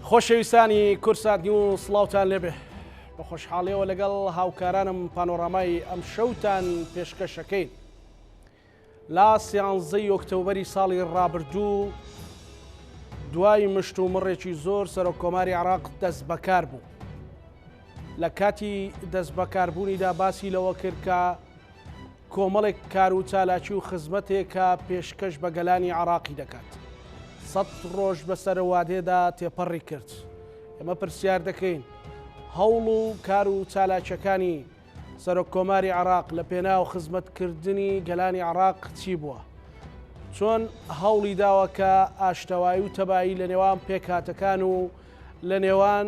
خۆشەویستانی کورسات نیو و سڵاوتان لێبێ بە خۆشحاڵیەوە لەگەڵ هاوکارانم پانۆڕامای ئەم شەوتان پێشکەشەکەین لا سیانزەی ئۆکتۆبری ساڵی ڕابردوو دوای مشت و مڕێکی زۆر سەرۆک کۆماری عراق دەست بەکار بوو لە کاتی دەست بەکاربوونیدا باسی لەوە کرد کە کۆمەڵێک کار و چالاکی و خزمەتێکە پێشکەش بە گەلانی عەڕاقی دەکات. سەد ڕۆژ بە سەرەوادێدا تێپەڕی کرد. ئێمە پرسیار دەکەین، هەوڵ و کار و چالاکیەکانی سەرۆک کۆماری عەڕاق لە پێناو خزمەت کردنی گەلانی عەڕاق چی بووە؟ چۆن هەوڵی داوە کە ئاشتەوایی و تەبایی لە نێوان پێکهاتەکان و لە نێوان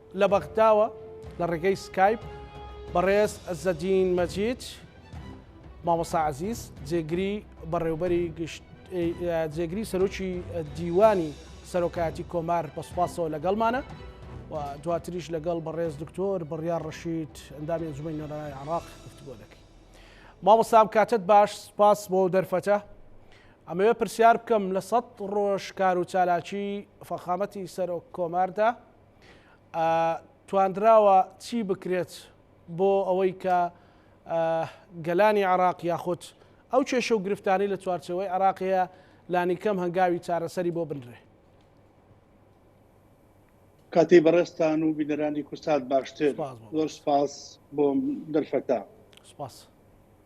لە بەغداوە لە ڕێگەی سکایپ بەڕێز عزەدین مەجید مامۆسا عزیز جێگری بەڕێوبەری گشت جێگری سەرۆکی دیوانی سەرۆکایەتی کۆمار بە سوپاسەوە لەگەڵمانە و دواتریش لەگەڵ بەڕێز دکتۆر بڕیار ڕشید ئەندامی ئەنجومی نۆرانای عراق گفتگۆ دەکەین مامۆسام کاتت باش سپاس بۆ دەرفەتە ئەمەوێ پرسیار بکەم لە سەد ڕۆژ کار و چالاکی فەخامەتی سەرۆک کۆماردا توانراوە چی بکرێت بۆ ئەوەی کە گەلانی عراق یاخود ئەو کێشە و گرفتانی لە چوارچەوەی عراقەیە لانیکەم هەنگاوی چارەسەری بۆ بنرێ کاتی بەڕێستان و بینەرانی کوردسات باشتر زۆر سپاس بۆ دەرفەتا سپاس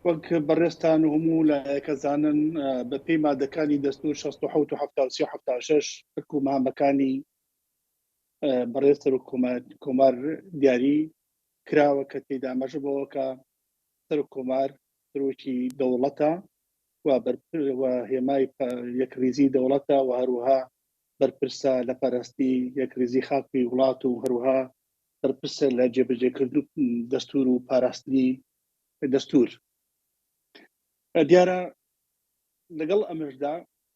وەک بەڕێستان و هەموو لایەکە زانن بە پێی مادەکانی دەستور 16 و 1970 و 1970 ترک و مامەکانی بەڕێز سەرۆک کۆمار کۆمار دیاری کراوە کە تێدا مەژە بەوە کە سەرۆک کۆمار سەرۆکی دەوڵەتە و بەرپر و هێمای پە- یەکڕیزی دەوڵەتە و هەروەها بەرپرسە لە پەرستی یەکڕیزی خاکی وڵات و هەروەها بەرپرسە لە جێبەجێکردن و دەستور و پاراستنی دەستور دیارە لەگەڵ ئەمەشدا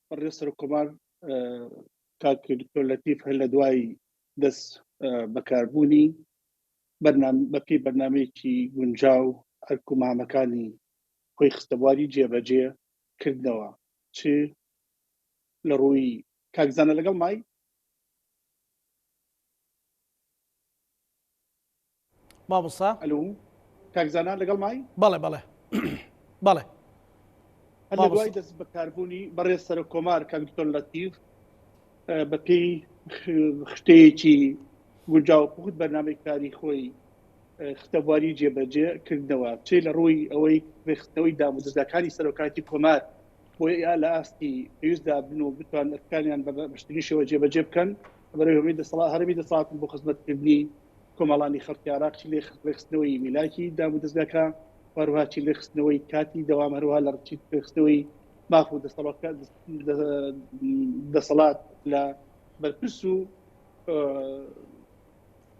بەڕێز سەرۆک کۆمار اه، کاک دکتۆر لەتیف هەر لە دوای دەست بەکاربوونی بەپی بەرنمەیەکی گونجاو ئەرک و مامەکانی خۆی خستەبواری جێبەجێ کردنەوە چ لە ڕووی کاکزانە لەگەڵ مای مامۆستا ئەلو کاک زانا لەگەڵ مای بەڵێ بەڵێ بەڵێ لە دوای دەست بەکاربوونی بەڕێز سەرۆک کۆمار کاک دکتۆر لەتیف بە پێی خشتەیەکی گونجاو پخت بەرنامەی کاری خۆی خستەبواری جێبەجێ کردنەوە چێ لە ڕووی ئەوەی ڕێخستنەوەی دامودەزگاکانی سەرۆکاتی کۆمار بۆی یا لە ئاستی پێویستدا بن و بتوان ئەرکانیان بە بەشتنی شێوە جێبەجێ بکەن بەرەوەی دەسەڵات هەرمی دەسەڵاتن بۆ خزمەتکردنی کۆمەڵانی خەڵکی عێراق چی لە ڕێکخستنەوەی میلاکی دام و دەزگاکە هەروها چی لێخستنەوەی کاتی دەوام هەروها لە ڕچی پێخستنەوەی ماف و دەسەڵات لە بەرپرس و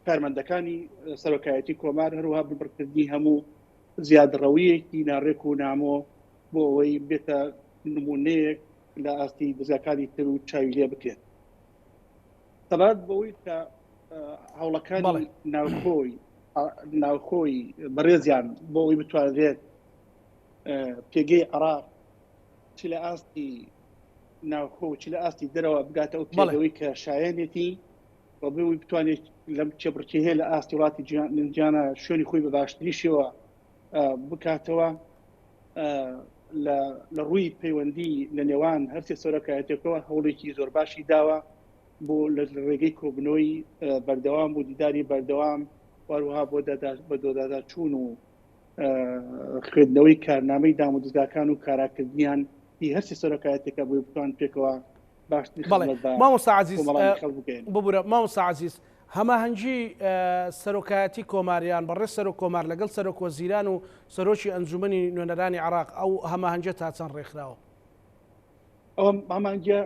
کارمەندەکانی سەرۆکایەتی کۆمار هەروها ببڕکردنی هەموو زیادڕەویەکی ناڕێک و نامۆ بۆ ئەوەی بێتە نمونەیەک لە ئاستی دەزاکانی تر و چاوی لێ بکرێت سەبارەت بەوەی کە هەوڵەکانی بەڵێ. ناوخۆی ناوخۆی بەڕێزیان بۆ ئەوی بتوانرێت اه، پێگەی عراق چ لە ئاستی ناوخۆ و چ لە ئاستی دەرەوە بگاتە ئەو بەڵێ. پێگەوەی کە شایەنێتی و بوی بتوانێت لەم کێبڕکێ هەیە لە ئاستی وڵاتی جیهان- جیهانە شوێنی خۆی بە باشتری شێوە بکاتەوە لە ڕووی پەیوەندی لە نێوان هەرسێ سەرۆکایەتێکەوە هەوڵێکی زۆر باشی داوە بۆ لە ڕێگەی کۆبنەوەی بەردەوام بۆ دیداری بەردەوام واروها بۆ بە دۆدادا چوون و خوێندنەوەی کارنامەی دام و دزاکان و کاراکردنیان هی هەرسی سەرۆکایەتێکە بۆی بتوان پێکەوە باشتر مامۆسا عزیز ببورە مامۆسا عزیز هەماهەنگی سەرۆکایەتی کۆماریان بەڕێز سەرۆک کۆمار لەگەڵ سەرۆک وەزیران و سەرۆکی ئەنجوومەنی نوێنەرانی عێراق، ئەو هەماهەنگیە تا چەند ڕێکخراوە؟ ئەو هەماهەنگیە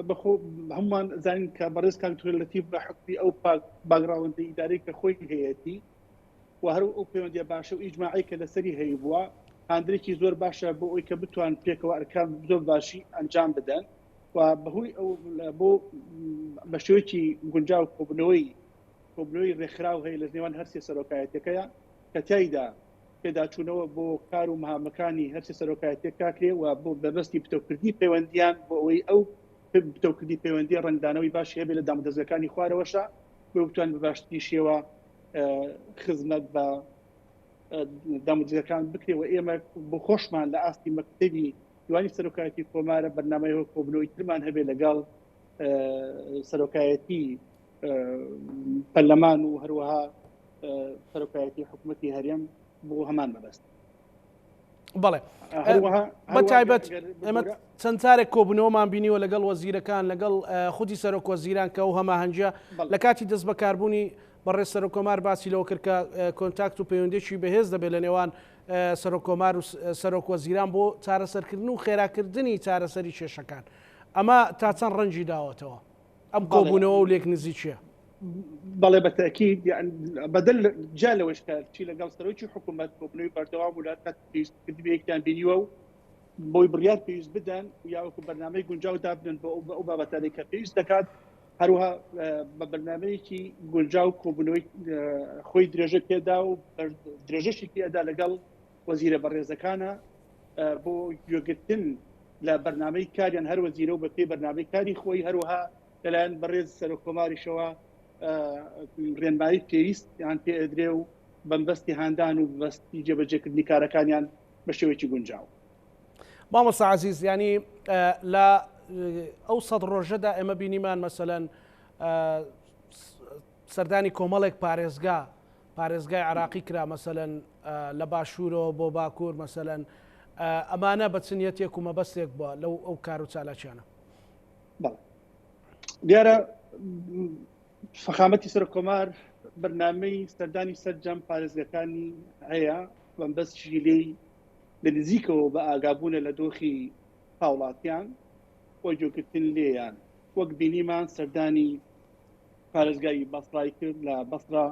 بەخۆ هەمووان زانین کە بەڕێز کاک دوکتور لەتیف بە حوکمی ئەو باگڕاوندە ئیدارەی کە خۆی هەیەتی و هەر ئەو پەیوەندیە باشە و ئیجماعی کە لەسەری هەیبووە هاندەرێکی زۆر باشە بۆ ئەوی کە بتوان پێکەوە ئەرکان زۆر باشی ئەنجام بدەن. و بەهۆی ئەو بۆ بە شێوەیەکی گونجاو کۆبنەوەی کۆبنەوەی ڕێکخراو هەیە لە نێوان هەرسێ سەرۆکایەتەکەیە کە تایدا پێداچوونەوە بۆ کار و مهامەکانی هەرسێ سەرۆکایەتەکە کرێ و بۆ بەبستی پتەوکردنی پەیوەندیان بۆ ئەوەی ئەو پتەوکردنی پەیوەندی ڕنگدانەوەی باشی هەبێت لە دامودەزگەکانی خوارەوەشە بۆ بتوان بە باشتری شێوە خزمەت بە دامودەزگەکان بکرێ و ئێمە بۆ خۆشمان لە ئاستی مەکتتەبی دوانی سەرۆکایەتی کۆمارە بەرنمەیەوە کۆبنەوەی ترمان هەبێ لەگەڵ سەرۆکایەتی پەرلەمان و هەروەها سەرۆکایەتی حکوومەتتی هەرێم بۆ هەمان مەبەست بڵێ بە تایبەت ئەمە چەند جارێک کۆبنەوەمان بینیوە لەگەڵ وەزیرەکان لەگەڵ خودی سەرۆک وەزیران کە و هەماهنجە لە کاتی دەست بەکاربوونی بەڕێ سەرۆکۆمار باسی لەوە کردکە کۆنتاکت و پەیوەندێکی بەهێز دەبێت لە نێوان سەرۆک کۆمار و سەرۆک وەزیران بۆ چارەسەرکردن و خێراکردنی چارەسەری کێشەکان ئەمە تا چەند ڕەنجی داوەتەوە ئەم کۆبوونەوە و لێک نزیکیە بەڵێ بە تاکیید بەدل جا لەوەش کە چی لەگەڵ سەرۆکی حکوومەت کۆبنەوەی بەردەوام و لات پێویستکردنێکیان بینیوە و بۆی بڕیار پێویست بدەن یاوەکو بەرنمەی گونجاو دابنن بۆ ئەو بابەتانی کە پێویست دەکات هەروەها بە بەرنامەیەکی گونجاو کۆبوونەوەی خۆی درێژە پێدا و درێژەشی پێدا لەگەڵ وەزیرە بەڕێزەکانە بۆ گوێگرتن لە بەرنمەی کاریان هەر وەزیرە و بە پێی بەرنمەی کاری خۆی هەروەها لەلایەن بەڕێز سەر کۆماریشەوە ڕێنمایی پێویست یان پێ ئەدرێ و بەمبەستی هاندان و بەستی جێبەجێکردنی کارەکانیان بە شێوەیەکی گونجاو مامۆستا عزیز ینی لە ئەو سەد ڕۆژەدا ئێمە بینیمان مەسەەن سەردانی کۆمەڵێک پارێزگا پارێزگای عراقی کرا مەسەەن لە باشوورەوە بۆ باکوور مەسەەن ئەمانە بە چنیەتێک و مەبەستێک بووە لەو ئەو کار و چالاکیانە دیارە فخامەتی سەر کۆمار بەرنمەی سەردانی سەررجەم پارێزگەکانی هەیە بەم بەس شیلەی لە نزیکەوە بە ئاگابوونە لە دۆخی هاوڵاتیان و گوێگرتن لێیان، وەک بینیمان سەردانی پارێزگای بەسڕای کرد، لە بەسڕا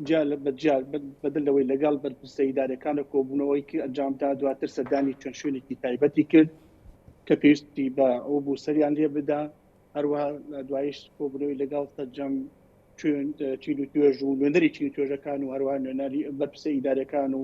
جیا لە بە جیا بەدەر لەوەی لەگەڵ بەرپرسە ئیدارەکان و کۆبوونەوەیەکی ئەنجامدا، دواتر سەردانی چەند شوێنێکی تایبەتی کرد کە پێویستی بە ئەوە بوو سەریان لێ بدا، هەروەها دواییش کۆبوونەوەی لەگەڵ سەرجەم چین و توێژ و نوێنەری چین و توێژەکان و هەروەها نوێنەری بەرپرسە ئیدارەکان و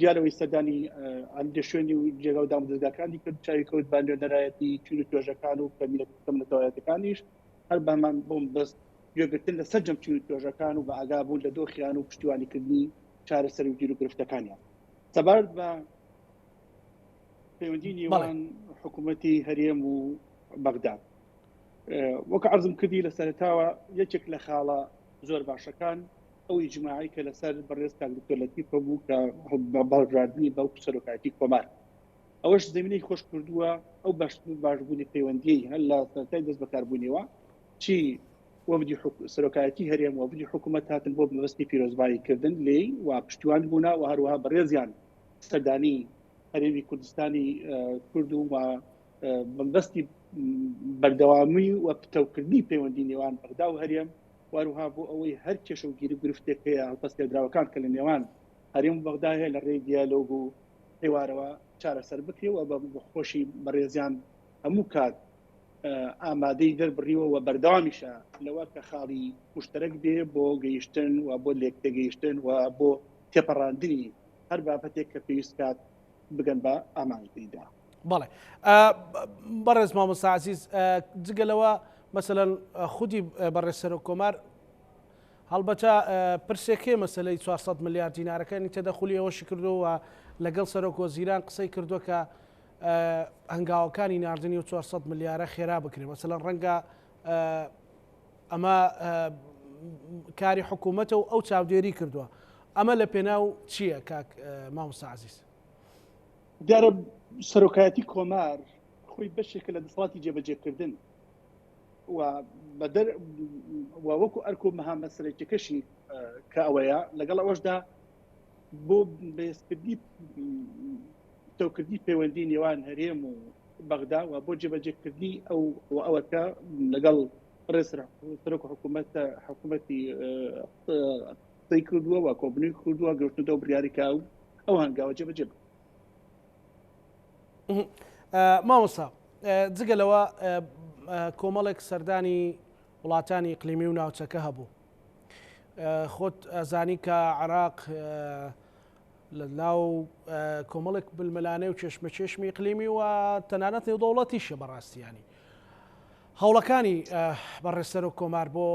دیارەوەی سەردانی عەندێ شوێنی و جێگا و دامودەزگاکانی کرد چاوی کەوت بە نوێنەرایەتی چین و توێژەکان و کەمیلەکەم نەتەوایەتەکانیش هەر بەمان بۆم بەست گوێگرتن لە سەررجەم چین و توێژەکان و بە ئاگا بوون لە دۆخیان و پشتیوانیکردنی چارە سەر و گیر و گرفتەکانیان سەبارەت بە پەیوەندی نیوان حکوومەتی هەرێم و بەغداد وەک عرضم کردی لە سەرتاوە یەکێک لە خاڵە زۆر باشەکان ئەو ئیجماعەی کە لەسەر بەڕێز کاک دکتۆر لەتیف هەبوو کە بە بەڵگاردنی بەڵکو سەرۆکایەتی کۆمار ئەوەش زمینەی خۆش کردووە ئەو بەش باشبوونی پەیوەندی هەر لە سەرای دەست بەکاربوونیەوە چی وەفدی حک- سەرۆکایەتی هەرێم وەفدی حکوومەت هاتن بۆ مەبەستی پیرۆزبایی کردن لێی و پشتیوان بوونا و هەروەها بەڕێزیان سەردانی هەرێمی کوردستانی ئە، کورد و و، ئە، بەمبەستی بەردەوامی و پتەوکردنی پەیوەندی نێوان بەغدا و هەرێم وهەروها بۆ ئەوەی هەر کێشە و گیر و گرفتێک هەیە هەڵپەستێدراوەکان کە لە نێوان هەرێم و بەغدا هەیە لە ڕێی دیالۆگ و حیوارەوە چارەسەر بکرێ و بە خۆشی بەڕێزیان هەموو کات ئامادەی دەربڕیوە و بەردەوامیشە لەوە کە خاڵی مشتەرەک بێ بۆ گەیشتن و بۆ لێکتێگەیشتن و بۆ تێپەڕاندنی هەر بابەتێک کە پێویست کات بگەن بە ئامانجدا بەڵێ بەڕێز مامۆسازیز جگەلەوە مەسەەن خودی بەڕێ سەر و کۆمار هەڵبەتە پرسێکێ مەسلەی 400 میلیارد دینارەکانی تەدەخلی ئەوەشی کردووە لەگەڵ سەرۆک وەزیران قسەی کردووە کە هەنگاوەکانی نردنی و 400 ملیارە خێرا بکرێ مەسەەن ڕەنگە ئەمە کاری حکوومەتە و ئەو چاودێری کردووە ئەمە لە پێناو چییە کاک مامۆستا عزیز دیارە سەرۆکایەتی کۆمار خۆی بەشێکە لە دەسڵاتی جێبەجێکردن بەدەر وەکو ئەرکۆ مەها مەسەرێکەکەشی کە ئەوەیە لەگەڵ ئەوەشدا بۆ بەێستکردی پتەوکردی پەیوەندی نێوان هەرێم و بەغدا و بۆ جێبەجێکردی ئەو و ئەوەکە لەگەڵ ڕێسرا سەرۆک حکوومەت حکوومەتی قسەی کردووە و کۆبنی کردووە گەشتنەوە بریاریکە و ئەو هەنگاوە جێبەجێ بکە مامۆستا جگە لەوە کۆمەڵێک سەردانی وڵاتانی قلیمی و ناوچەکە هەبوو خۆت ئەزانی کە عراق لە ناو کۆمەڵێک بلمەلانێ و چێشمەچێشمی ئیقلیمی و تەنانەت نێودەوڵەتیشە بەڕاستیانی هەوڵەکانی بەڕێسەر و کۆمار بۆ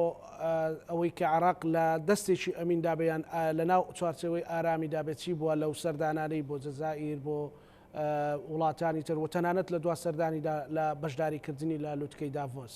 ئەوەی کە عراق لە دەستێکی ئەمین دابیان لە ناو چوارچەوەی ئارامی دابێتی بووە لەو سەردانانەی بۆ جەزائیر بۆ وڵاتانی تر و تەنانەت لە دوا سەردانیدا لە بەشداریکردنی لە لوتکەی داڤۆس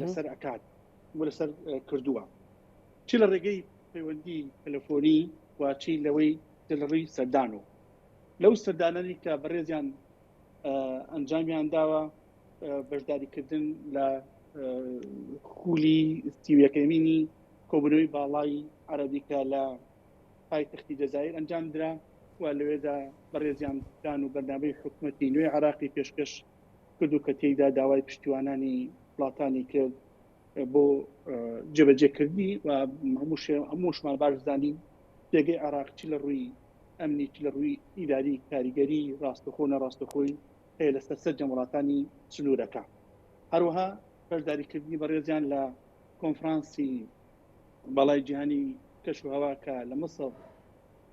لەسەر ئەکات و لەسەر کردووە چی لە ڕێگەی پەیوەندی تەلەفۆنی واچی لەوەی دڵڕی سەردان و لەو سەردانانی کە بەڕێزیان ئەنجامیان داوە بەشداریکردن لە خولی سیویەکەمینی کۆبنەوەی باڵای عربیکە لە پایتەختی دەزایر ئەنجام درا و لەوێدا بەڕێزیان دان و بەرنامەی حکوومەتتی نوێ عراقی پێشکەش کردو کە تێیدا داوای پشتیوانانی وڵاتانی کرد بۆ جێبەجێکردنی و هەمووشمان باش زانین پێگەی عێراق چی لە ڕووی ئەمنی چ لە ڕووی ئیداری کاریگەری ڕاستەخۆ نەڕاستەخۆی هەیە لەسەر سەرجەم وڵاتانی سنوورەکە هەروەها بەشداریکردنی بەڕێزیان لە کۆنفرانسی باڵای جیهانی کەش و هەواکە لە مەسەڵ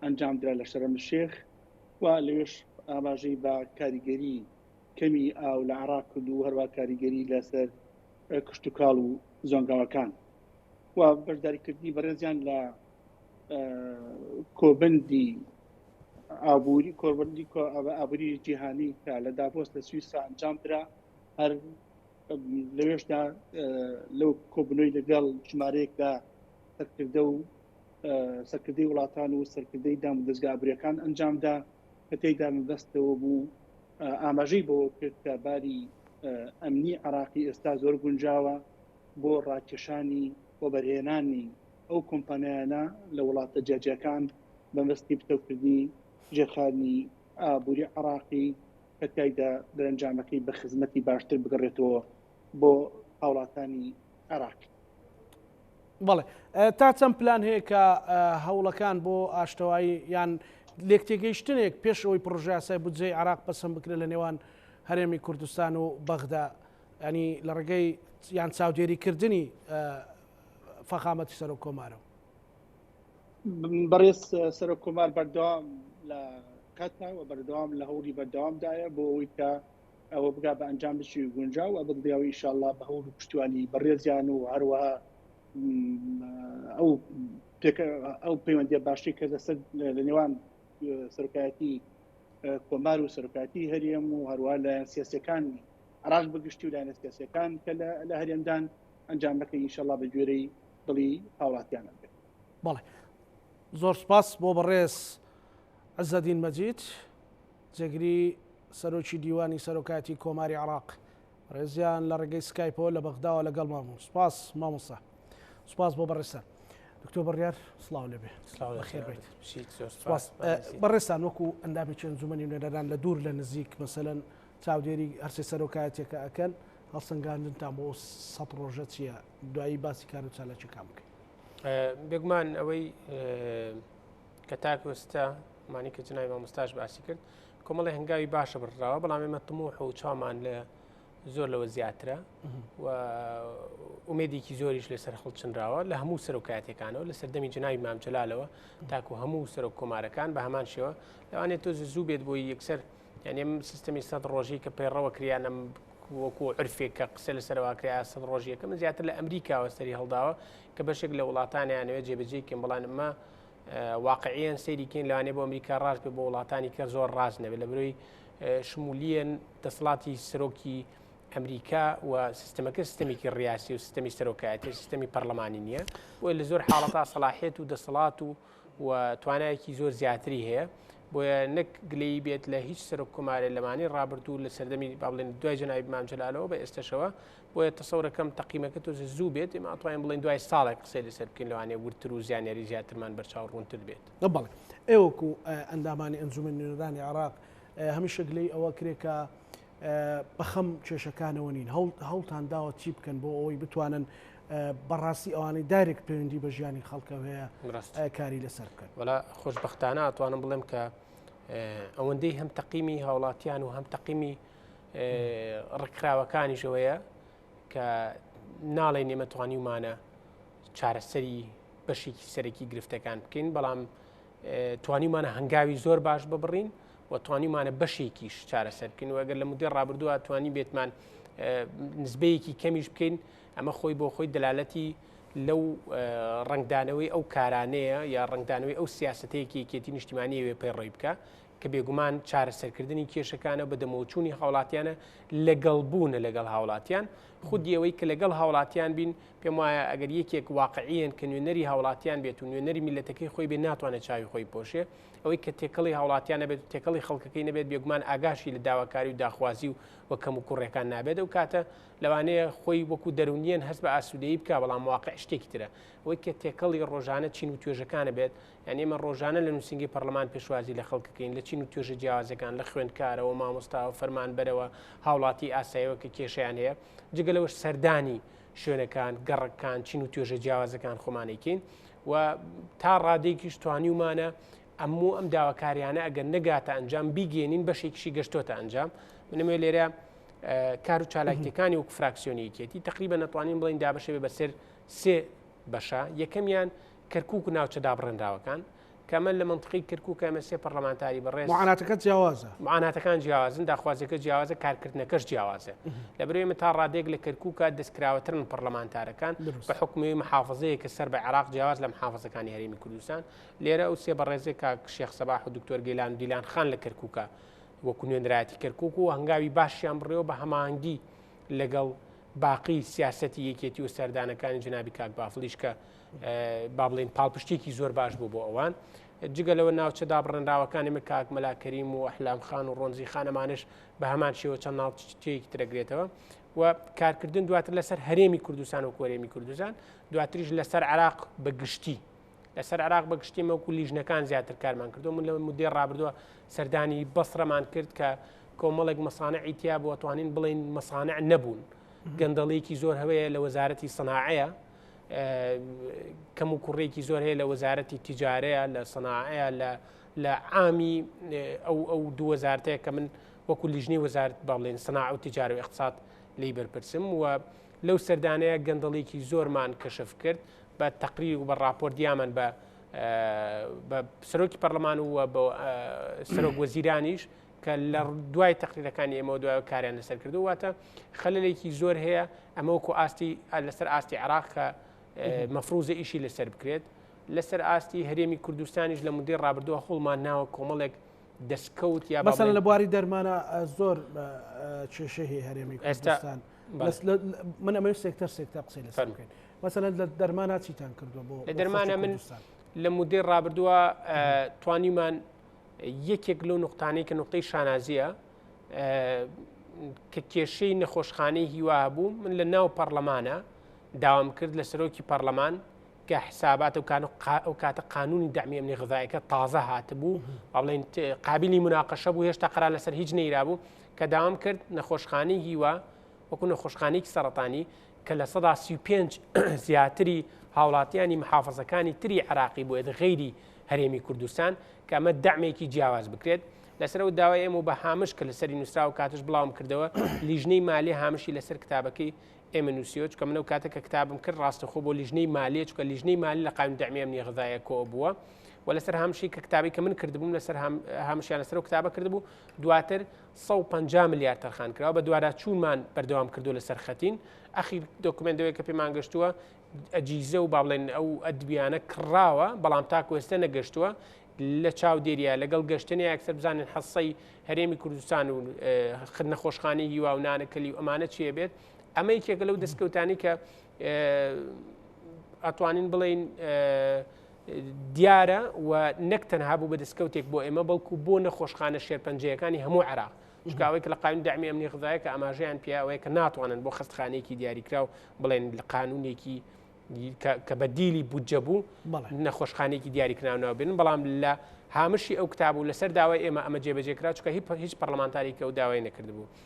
ئەنجامدرا لە شەرەملشێخ و لەوێش ئاماژەی بە کاریگەری کەمی ئاو لە عێراق کرد و هەروە کاریگەری لەسەر کشتوکاڵ و زۆنگاوەکان و بەشداریکردنی بەڕێزیان لە کۆبندی ئابووری کۆبندی ئابووری جیهانی کە لە داپۆست لە سویسرا ئەنجام درا هەر لەوێشدا لەو کۆبنەوەی لەگەڵ ژمارەیەک لە سەرکردە و سەرکردەی وڵاتان و سەرکردەی دام و دەستگا ئابووریەکان ئەنجامدا کە تێیدا مەبەستەوە بوو ئاماژەی بەوە کرد کە باری ئەمنی عراقی ئێستا زۆر گونجاوە بۆ ڕاکێشانی و بەرهێنانی ئەو کۆمپانیانە لە وڵاتە جیاجیەکان بەمەستی پتەوکردنی ژێرخانی ئابووری عراقی کە تایدا دەرەنجامەکەی بە خزمەتی باشتر بگەڕێتەوە بۆ هاوڵاتانی عراق. بەڵێ تا چەند پلان هەیە کە هەوڵەکان بۆ ئاشتەوایی یان لێکتێگەیشتنێک پێش ئەوی پڕژاسای بودجەی عراق پسند بکرێ لە نێوان هەرێمی کوردستان و بەغدا ینی لە ڕێگەی یان چاودێریکردنی فەخامەتی سەرۆک کۆمارەوە بەڕێز سەرۆک کۆمار بەردەوام لە کاتناوە بەردەوام لە هەوڵی بەردەوامدایە بۆ ئەوەی کە ئەوە بگا بە ئەنجامێکی گونجاو و بکدرێەوە ئیشاءاللە بە هەوڵ و پشتیوانی بەڕێزیان و هەروەها ئەو ئەو پەیوەندی باشی کە لەسەر لە نێوان سەرکایەتی کۆمار و سەرکاتی هەرێم و هەروە لە سیاسەکانی عراق بەگشتی و لایەنە سیاسەکان کە لە هەرێمدان ئەنجام بەکە ئینشەڵا بە گوێرەی دڵی هاوڵاتیانە بێت بەڵێ زۆر سپاس بۆ بەڕێز عزەدین مەجید جێگری سەرۆکی دیوانی سەرۆکایەتی کۆماری عێراق ڕێزیان لە ڕێگەی سکایپەوە لە بەغداوە لەگەڵ مامون سپاس مامۆستا سپاس بۆ بەڕێستان دکتۆر بڕیار سلااو لەبێ بەڕێستان وەکو ئەندامی چێن زومەنی نوێنەران لە دوور لە نزیک مەسەن چاودێری هەرسێ سەرۆکایەتێکە ئەکەن هەڵسەنگاندنتان بۆ سە ڕۆژە چییە دوایی باسی کار و چالاکیەکان بکەین بێگومان ئەوەی کە تاکو ئێستا مانی کە جنای مامۆستاش باسی کرد کۆمەڵی هەنگاوی باشە بڕراوە بەڵام ئێمە تموح و چامان لە زۆر لەوە زیاترە و ئومێدێکی زۆریش لەسەر خڵچنراوە لە هەموو سەرۆکاتەکانەوە لە سەردەمی جنای مامجلالەوە تاکو هەموو سەرۆک کۆمارەکان بە هەمان شێوە لەوانێت تۆ زوو بێت بۆی یەکسەر یعنی سیستمی سەد ڕۆژی کە پەیڕەوە کریانم وەکو عرفێک کە قسە لە سەرواکریا سەد ڕۆژیەکە من زیاتر لە ئەمریکاوە سەری هەڵداوە کە بەشێک لە وڵاتانیانەوە جێبجێکم بڵانمە واقعیەن سەیری کەین لەوانێ بۆ ئەمریکا ڕاست بێ بۆ وڵاتانی کە زۆر ڕاست نەبێت لە برۆی شمولیەن دەسڵاتی سەرۆکی ئەمریکا و سیستمەکە سیستمێکی ڕاستی و سیستمی سەرۆکایەتی سیستمی پەرلەمانی نییە بۆی لە زۆر حاڵەتا سەلاحێت و دەسەڵات و و توانایەکی زۆر زیاتری هەیە بۆیە نەک گلەی بێت لە هیچ سەرۆک کۆمارە لەمانی ڕابردوو لە سەردەمی بابلێن دوای جنایب مامجلالەوە بە ئێستشەوە بۆیە تەسەورەکەم تەقیمەکە تۆزێ زوو بێت ئێمە ئەتوانین بڵێن دوای ساڵێک قسەی لەسەر بکەین لەوانێ ورتر و زیانیاری زیاترمان بەرچاو ڕوونتر بێت بەڵێ ئێوەکو ئەندامانی ئەنجومەن نوێنەرانی عێراق هەمیشە گلەی ئەوە کرێ کە بەخەم کێشەکانەوە نین هەوڵتان داوە چی بکەن بۆ ئەوەی بتوانن بەڕاستی ئەوانەی دارێک پەیوەندی بە ژیانی خەڵکە هەیە کاری لەسەر بکەن وەلا خۆشببختانە ئەتوانم بڵێم کە ئەوەندەی هەم تەقیمی هاوڵاتیان و هەم تەقیمی ڕکراوەکانیشەوەیە کە ناڵێ نێمەتوانیمانە چارەسەری بەشێکی سەرەکی گرفتەکان بکەین بەڵام توانیمانە هەنگاوی زۆر باش ببڕین و توانیمانە بەشێکیش چارەسەر بکەین و ئەگەر لە مدەی ڕابردووە توانی بێتمان نزبەیەکی کەمیش بکەین ئەمە خۆی بۆ خۆی دەلالەتی لەو ڕنگدانەوەی ئەو کارانەیە یا ڕنگدانەوەی ئەو سیاستەیەکی یەکێتی نیشتیمانی وێ پەیڕۆی بکە کە بێگومان چارەسەرکردنی کێشەکانە بە دەمەوەچوونی هاوڵاتیانە لەگەڵ بوونە لەگەڵ هاوڵاتیان خودی ئەوەی کە لەگەڵ هاوڵاتیان بین پێم وایە ئەگەر یەکێک واقعیان کە نوێنەری هاوڵاتیان بێت و نوێنەری میلەتەکەی خۆی بێ ناتوانێت چاوی خۆی پۆشێ ئەوەی کە تێکەڵی هاوڵاتیان نەبێت تێکەڵی خەڵکەکەی نەبێت بێگومان ئاگاشی لە داواکاری و داخوازی و وە کەم و کوڕەکان نابێت و کاتە لەوانەیە خۆی وەکو دەرونیان هەست بە ئاسوودەی بکە بەڵام واقع شتێکی ترە ئەوەی کە تێکەڵی ڕۆژانە چین و توێژەکانە بێت یانی ئێمە ڕۆژانە لە نووسینگەی پەرلەمان پێشوازی لە خەڵک دەکەین لە چین و توێژە جیاوازەکان لە خوێندکارەوە مامۆستاوە فەرمانبەرەوە هاوڵاتی ئاسایەوە کە کێشیان هەیە جگە لەوەش سەردانی شوێنەکان گەڕکان چین و توێژە جیاوازەکان خۆمانێکین و تا ڕادێکیش توانیومانە ئەموو ئەم داواکاریانە ئەگەر نەگاتە ئەنجام بیگەێنین بەشێکیشی گەشتۆتە ئەنجام منمێ لێرە کار و چالاکتەکانی وەک فراکسیۆنیکێتی تقریبا نەتوانین بڵین دابشێ بەسەر سێ بەشە یەکەمیان کەرکوک و ناوچە دابڕێنراوەکان، کە ئەمە لە مەنتقی کەرکوکە ئێمە سێ پەڕلەمانتاری بەڕێز معاناتەکە جیاوازە. معاناتەکان جیاوازن، داخوازییەکە جیاوازە، کارکردنەکەش جیاوازە. لەبەرئەوەی ئێمە تا ڕادەیەک لە کەرکوکە دەستکراوەترن پەڕلەمانتارەکان، بە حوکمی ئەوەی محافزەیەکە سەر بە عێراق جیاواز لە محافزەکانی هەرێمی کوردستان. لێرە ئەو سێ بەڕێزەی کاک شێخ سەباح و دکتۆر گەیلان و دیلان خان لە کەرکوکە وەکو نوێنەرایەتی کەرکوک و هەنگاوی باشیان بڕیەوە بە هەماهەنگی لەگەڵ باقی سیاسەتی یەکێتی و سەردانەکانی جەنابی کاک بافڵیش کە با بڵین پاڵپشتێکی زۆر باش بوو بۆ ئەوان جگە لەوە ناوچە دابڕێنراوەکانی من کاک مەلاکەریم و ئەحلام خان و ڕۆنزی خانەمانش بە هەمان شێوە چەند ناوچەیەکی ترەگرێتەوە و کارکردن دواتر لەسەر هەرێمی کوردستان و کۆرێمی کوردستان دواتریش لەسەر عراق بە گشتی لەسەر عراق بە گشتی مەوکو لیژنەکان زیاتر کارمان کردو من لە مدێ ڕابردووە سەردانی بەسرەمان کرد کە کۆمەڵێک مەسانە ئیتیا بۆ توانین بڵین مەسانە نەبوون گەندەڵێکی زۆر هەوەیە لە وەزارەتی سناعەیە کەم و کوڕێکی زۆر هەیە لە وەزارەتی تیجارەیە لە سەناعەیە لە لە ئامی ئەو ئەو دووەزارتەیە کە من وەکو لیژنی وەزارت بەڵێن سنا و تجارو اقتصاد لی بەرپرسم و لەو سەردانەیە گەندەڵێکی زۆرمان کەشف کرد بە تەقری و بە راپۆر دیامەن بە بە سەرۆکی پەرلەمان و بە سەرۆک وەزیرانیش کە لە دوای تەقریرەکانی ئێمەوە دوای کاریان لەسەر کردو واتە خەللێکی زۆر هەیە ئەمە وکو ئاستی لەسەر ئاستی عراق کە مەفروزە ئیشی لەسەر بکرێت لەسەر ئاستی هەرێمی کوردستانیش لە مدەی ڕابردووە هەڵمان ناوە کۆمەڵێک دەستکەوت یا بەسەر لە بواری دەرمانە زۆر کێشەی هەرێمی ئێستان من ئەمە سێکتەر سێکتە قسەی لە فەرمکەین مەسەن لە دەرمانە چیتان کردو بۆ لە دەرمانە من لە مدەی ڕابردووە توانیمان یەکێک لەو نقطانەی کە نقطەی شانازیە کە کێشەی نەخۆشخانەی هیوا بوو من لە ناو پەرلەمانە داوام کرد لە سەرۆکی پەرلەمان کە حسابات و کان و کاتە قانونی دەمی ئەمنی غذایەکە تازە هاتبوو ئەڵێن قابلی مناقەشە بوو هێشتا قرا لەسەر هیچ نەیرابوو کە داوام کرد نەخۆشخانەی هیوا وەکو نەخۆشخانێکی سەرەتانی کە لە سەدا سی و پێنج زیاتری هاوڵاتیانی محافەزەکانی تری عراقی بوێت غەیری هەرێمی کوردستان کە ئەمە دامێکی جیاواز بکرێت لەسەرەوە داوای ئێمە بە هامش کە لەسەری نووسراو کاتش بڵاوم کردەوە لیژنەی مالی هامشی لەسەر کتابەکەی ئێمە نووسیۆچ کە منەو کاتە کە کتابم کرد ڕاستەخۆ بۆ لیژنەی مالی چکە لیژنەی مالی لە قایم دەمیان نیغدایە کۆ بووە و لەسەر هامشی کە کتابی کە من کردبووم لەسەر هامشیان لەسەر و کتابە کردبوو دواتر سەد و پەنجا ملیار تەرخان کراوە، بەدواداچوونمان بەردەوام کردووە لەسەر خەتین، ئەخیر دۆکومێنت لەوێ کە پێمان گەشتووە ئەجیزە و با بڵێن ئەو ئەدبیانە کڕاوە، بەڵام تاکو ئێستا نەگەشتووە لە چاودێرییە لەگەڵ گەشتنیا ئەکثەر بزانین حەسەی هەرێمی کوردستان و نەخۆشخانەی هیوا و نانەکەلی و ئەمانە چی ئەبێت، ئەمە یەکێکە لەو دەستکەوتانەی کە ئەتوانین بڵێین دیارە و نەک تەنها بوو بە دەستکەوتێک بۆ ئێمە بەڵکو بۆ نەخۆشخانە شێرپەنجەیەەکانی هەموو عراق شکاوێک لە قانون دامی ئەمنی غذایە کە ئاماژەیان پیاوەیە کە ناتوانن بۆ خستخانێکی دیاریکراو بڵێن لە قانونێکی کە بە دیلی بودجە بوو نەخۆشخانێکی دیاریکراونەوە بن بەڵام لە هامشی ئەو کتاب و لەسەر داوای ئێمە ئەمە جێبەجێکرا چکە هیچ پەرلەمانتارێکی ئەو داوای نەکردبوو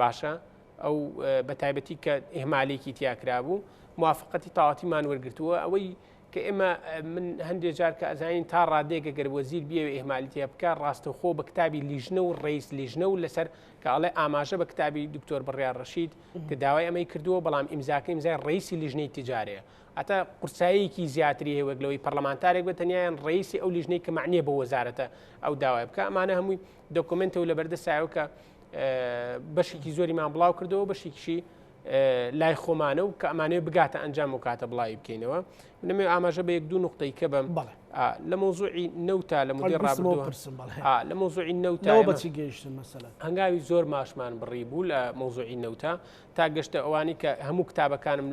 باشە ئەو بە تایبەتی کە ئهمالێکی تیاکرابوو موافقەتی تاواتیمان وەرگتووە ئەوەی کە ئێمە من هەندێک جار کە ئەزانین تا ڕادێکە گەر وەزیر بێ ئهمالیتە بکە ڕاستەخۆ بە کتابی لیژنە و ڕیز لیژنە و لەسەر کاڵێ ئاماژە بە کتابی دکتۆر بڕیار ڕشید کە داوای ئەمەی کردووە بەڵام ئیمزاکە ئیمزای ڕیسی لیژنەی تجارەیە ئەتا قورساییەکی زیاتری هەیە وەگلەوەی پەرلەمانتارێک بە تەنیایان ڕیسی ئەو لیژنەی کە معنیە بە وەزارەتە ئەو داوای بکە ئەمانە هەمووی دەکۆمنتەوە لە بەردە سایەوە کە بەشێکی زۆریمان بڵاو کردەوە بەشێکیشی لای خۆمانە و کە ئەمانەیە بگاتە ئەنجام و کاتە بڵاوی بکەینەوە منەمێ ئاماژە بە یەک دوو نقطەی کە بم بڵێ لە مۆزوعی نەوتا لە مدی ڕابرسم لە مۆزوعی نەوتا بەچی گەیشتن مەسەلا هەنگاوی زۆر ماشمان بڕی بوو لە مۆزوعی نەوتا تا گەشتە ئەوانی کە هەموو کتابەکانم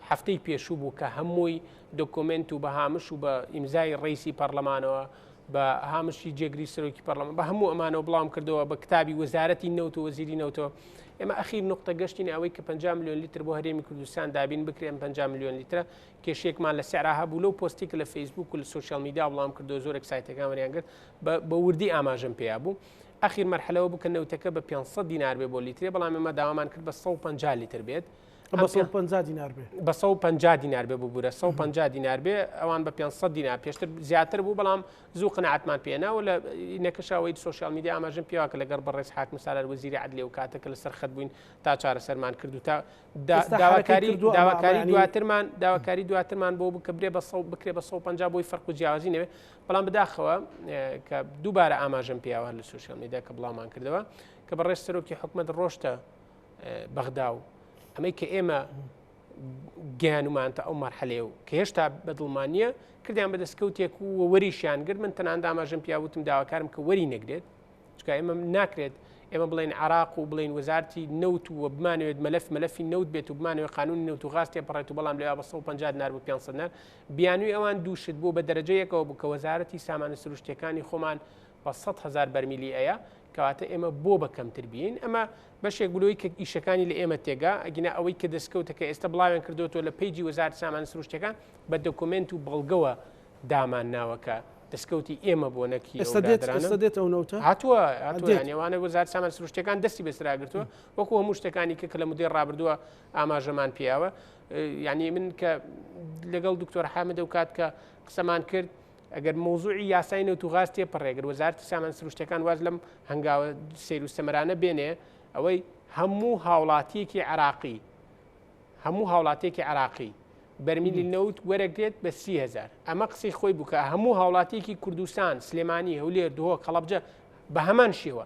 هەفتەی پێشوو بوو کە هەمووی دۆکۆمنت و بەهامش و بە ئیمزای ڕیسی پەرلەمانەوە بە هامشی جێگری سەرۆکی پەرلەمان بە هەموو ئەمانەوە بڵام کردەوە بە کتابی وەزارەتی نەوت و وەزیری نەوتەوە ئێمە ئەخیر نقطە گەشتین ئەوەی کە 5 میلیۆن لیتر بۆ هەرێمی کوردستان دابین بکرێن 5 میلیۆن لیترە کێشێکمان لە سعرا هەبوو لەو پۆستێک لە فەیسبوک و لە سوسیال میدا بڵام کردو زۆرێک سایتەکان وەریان کرد بە وردی ئاماژم پێیا بوو ئەخیر مەرحلەوە بکە نەوتەکە بە 500 دینار بێ بۆ لیترێ بەڵام ئێمە داوامان کرد بە 150 لیتر بێت بە سەد و پەنجا دینار بێ. بە سەد و پەنجا دینار بێ ببوورە، سەد و پەنجا دینار بێ، ئەوان بە پێنج سەد دینار، پێشتر زیاتر بوو، بەڵام زوو قەناعەتمان پێ نەوە لە نەکشاوەی سۆشیال میدیا ئاماژەم پێوە کە لەگەڵ بەڕێز حاکم سالار وەزیری عەدلیە و کاتەکە لە سەرخەت بووین تا چارەسەرمان کرد و تا دا- ئێستا داواکاری حەرەکەی کردووە، داواکاری ئەمە یعنی- دواترمان داواکاری دواترمان بۆ بوو کە برێ بە سەد بکرێ بە سەد و پەنجا بۆی فەرق و جیاوازی نەبێ، بەڵام بەداخەوە اه، کە دووبارە ئاماژەم پێیەوە هەر لە سۆشیال میدیا کە بڵاومان کردەوە کە بەڕێز سەرۆکی حکومەت ڕۆشتە بەغدا و ئەمەی کە ئێمە گیانمانتە ئەو مەرحەلێ و کە هێشتا بەدڵمانە کردیان بە دەستکەوتێک و وەریشیان گرت من تەنان داماژم پیاوتم داواکارم کە وەری نەگرێت چکە ئێمە ناکرێت ئێمە بڵێن عراق و بڵین وەزارتی نەوت و بمانوێت مەلف مەلفی نەوت بێت و بمانوێت قانون نەوت و غاستێ پڕێت و بەڵام لە 150 نار بۆ 500 نار بیانوی ئەوان دووشت بۆ بە دەرەجەیەکەوە بوو کە وەزارەتی سامانە سروشتەکانی خۆمان بە سەد هەزار بەرمیلی ئەیا کەواتە ئێمە بۆ بە کەمتر بین ئەمە بەشێک بلوی کە ئیشەکانی لە ئێمە تێگا ئەگینا ئەوەی کە دەستکەوتە کە ئێستا بڵاوێن کردوەوە لە پیجی وەزار سامان سروشتەکان بە دەکۆمنت و بەڵگەوە دامان ناوەکە دەستکەوتی ئێمە بۆ نەکی ئێستا دێت ئێستا دێت ئەو نەوتە هاتووە نێوانە وەزار سامان سروشتەکان دەستی بەسراگرتووە وەکو هەموو شتەکانی کە کە لە مدەی ڕابردووە ئاماژەمان پیاوە یعنی من کە لەگەڵ دکتۆر حامدە و کات کە قسەمان کرد ئەگەر مەوزوعی یاسای نەوت و غاز تێپەڕێ، گەر وەزارەتی سامان سروشتیەکان واز لەم هەنگاوە سەیر و سەمەرانە بێنێ، ئەوەی هەموو هاوڵاتیەکی عێراقی، هەموو هاوڵاتیەکی عێراقی بەرمیلی نەوت وەرەگرێت بە سی هەزار، ئەمە قسەی خۆی بوو کە هەموو هاوڵاتیەکی کوردستان، سلێمانی، هەولێر، دهۆک، هەڵەبجە بە هەمان شێوە.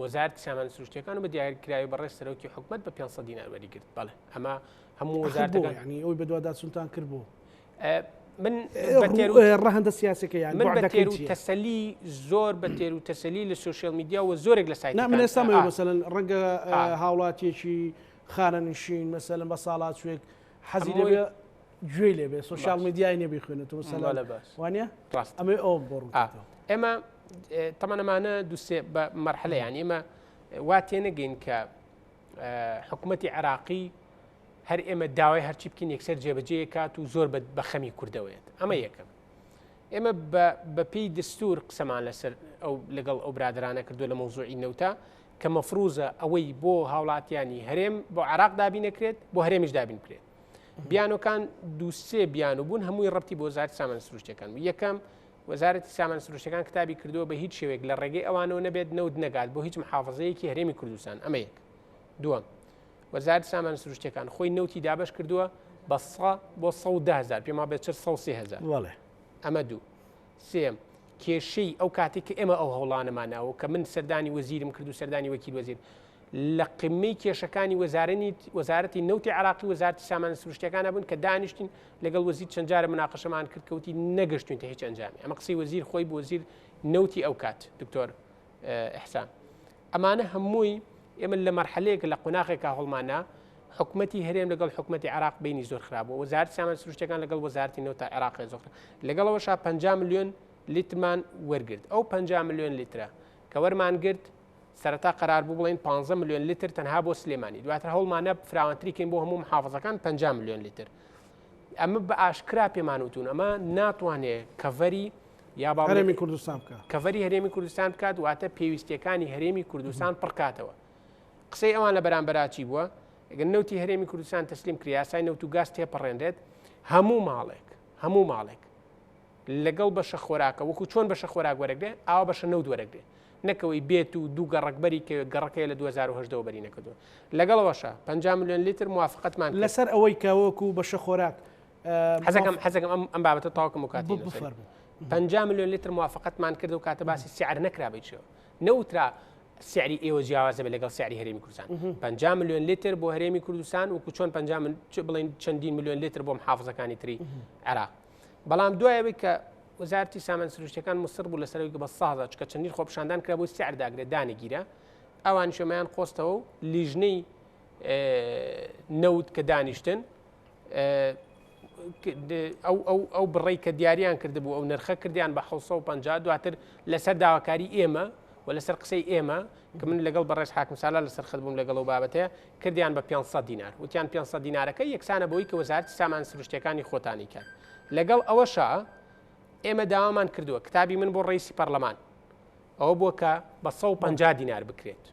وەزارەتی سامانە سروشتیەکان و بە دیاریکراوی بەڕێز سەرۆکی حکومت بە 500 دینار وەری گرت بەڵێ ئەمە هەموو وەزارەتەکان ینی ئەوی بەدواداچونتان کرد بۆ من ڕەهندە سیاسەکە یان من بە تێر و تەسەلی زۆر بە تێر و تەسەلی لە سوسیال میدیا و زۆرێک لە سایت من ئێستا مەسەن ڕەنگە هاوڵاتیەکی خانەنشین مەسەلم بە ساڵات شوێک حەزی لێ گوێ لێ بێ سوسیال میدیای نێ بخوێنێتەوە سەلا لە باش وانە ڕاست ئەمە ئەو بۆڕ ئێمە تەمانەمانە دوسێ بە مەرحەلیان ئێمە وا تێنەگەین کە حکوومەتتی عراقی هەر ئێمە داوای هەرچی بکەین یەکسەر جێبەجێ کات و زۆر بە خەمی کردەوەێت ئەمە یەکەم ئێمە بەپی دەستور قسەمان لەسەر ئەو لەگەڵ ئەو برادرانە کردو لە مۆزوعی نەوتا کە مەفروزە ئەوەی بۆ هاوڵاتیانی هەرێم بۆ عراق دابینەکرێت بۆ هەرێمیش دابین بکرێت بیانەکان دووسێ بیان و بوون هەمووی ڕەتی بۆ زار سامان سروشتەکان و یەکەم وەزارەتی سامان سروشتەکان کتابی کردووە بە هیچ شێوێک لە ڕێگەی ئەوانەوە نەبێت نەوت نەگات بۆ هیچ محافظەیەکی هەرێمی کوردستان ئەمە یەک دووەم وەزارت سامان سروشتەکان خۆی نەوتی دابش کردووە بە بۆ 100هزار پێما بێت 400هزار ئەمە دوو سێیەم، کێشەی ئەو کاتەی کە ئێمە ئەو هەوڵانەمان ناوە و کە من سەردانی وەزیرم کرد و سەردانی وەکیل وەزیر، لە قمەی کێشەکانی وەزارنی وەزارەتی نەوتی عێراقی و وەزارەتی سامانە سروشتییەکانا بووین کە دانیشتین لەگەڵ وەزیر چەند جارە مناقەشەمان کرد کە وتی نەگەشتوینتە هیچ ئەنجامێ. ئەمە قسەی وەزیر خۆی بوو، وەزیر نەوتی ئەو کات، دکتۆر ئیحسان. ئەمانە هەمووی ئێمە لە مەرحەلەیەک لە قۆناغێکا هەڵمانە حکوومەتتی هەرێم لەگەڵ حکوومەتتی عراق بینی زۆر خراپ و وەزارت سامان سروشتەکان لەگەڵ وەزارتی نەوە تا عراق زۆخر لەگەڵەوە شا 50 میلیۆن لیتمان وەرگرت ئەو 50 میلیۆن لیترە کە وەرمان گرت سەرەتا قرار بوو بڵین 15 میلیۆن لیتر تەنها بۆ سلێمانی دواتر هەڵمانە فراوانتریکەین بۆ هەموو محافظەکان 50 میلیۆن لیتر ئەمە بە ئاشکرا پێمانوتون ئەمە ناتوانێت کەڤەری یا با هەرێمی کوردستان بکە کەڤەری هەرێمی کوردستان بکات واتە پێویستیەکانی هەرێمی کوردستان پڕکاتەوە قسەی ئەوان لە بەرامبەراچی بووە گەن نوتی هەرێمی کوردستان تەسلیم کریاسای نەوت و گاز تێپەڕێنرێت هەموو ماڵێک هەموو ماڵێک لەگەڵ بەشە خۆراکە وەکو چۆن بەشە خۆراک وەرەگرێ ئاوا بەشە نەوت وەرەگرێ نەکەوەی بێت و دوو گەڕکبەری کە گەڕەکەی لە 2010 بەری نەکردو لەگەڵەوەشە 5 میلیۆن لیتر موافقتمان لەسەر ئەوەی کەوەکو بەشە خۆراک حەزەکەم حەزەکەم ئەم ئەم بابەتە تاوکم و کاتی بفەر پ ملیۆن لتر موافقتمان کرد و کاتە باسی سیعر نەکرا بچێ نەوترا سیعری ئێوە جیاوازە بە لەگەڵ سیعری هەرێمی کوردستان پ ملیۆن لتر بۆ هەرێمی کوردستان و کوچۆن پ بڵین چەندین ملیۆن لتر بۆم حافزەکانی تری عراق بەڵام دوایەوەی کە وەزارتی سامان سروشتەکان مسر بوو لەسەرەوەی بە سازە چکە چەندین خۆپشاندان کرا بۆی سیعرداگرێت دانەگیرە ئەوان شێمایان قۆستەوە و لیژنەی نەوت کە دانیشتن ئەو بڕی کە دیاریان کردبوو ئەو نرخە کردیان بە 1950 دواتر لەسەر داواکاری ئێمە و لەسەر قسەی ئێمە کە من لەگەڵ بەڕێز حاکم سالا لەسەر خەت بووم لەگەڵ و بابەتەیە کردیان بە 500 دینار وتیان 500 دینارەکە یەکسانە بۆی کە وەزارتی سامان سروشتەکانی خۆتانی کرد لەگەڵ ئەوەشە ئێمە داوامان کردووە کتابی من بۆ ڕیسی پەرلەمان ئەوە بووە کە بە سەد و پەنجا دینار بکرێت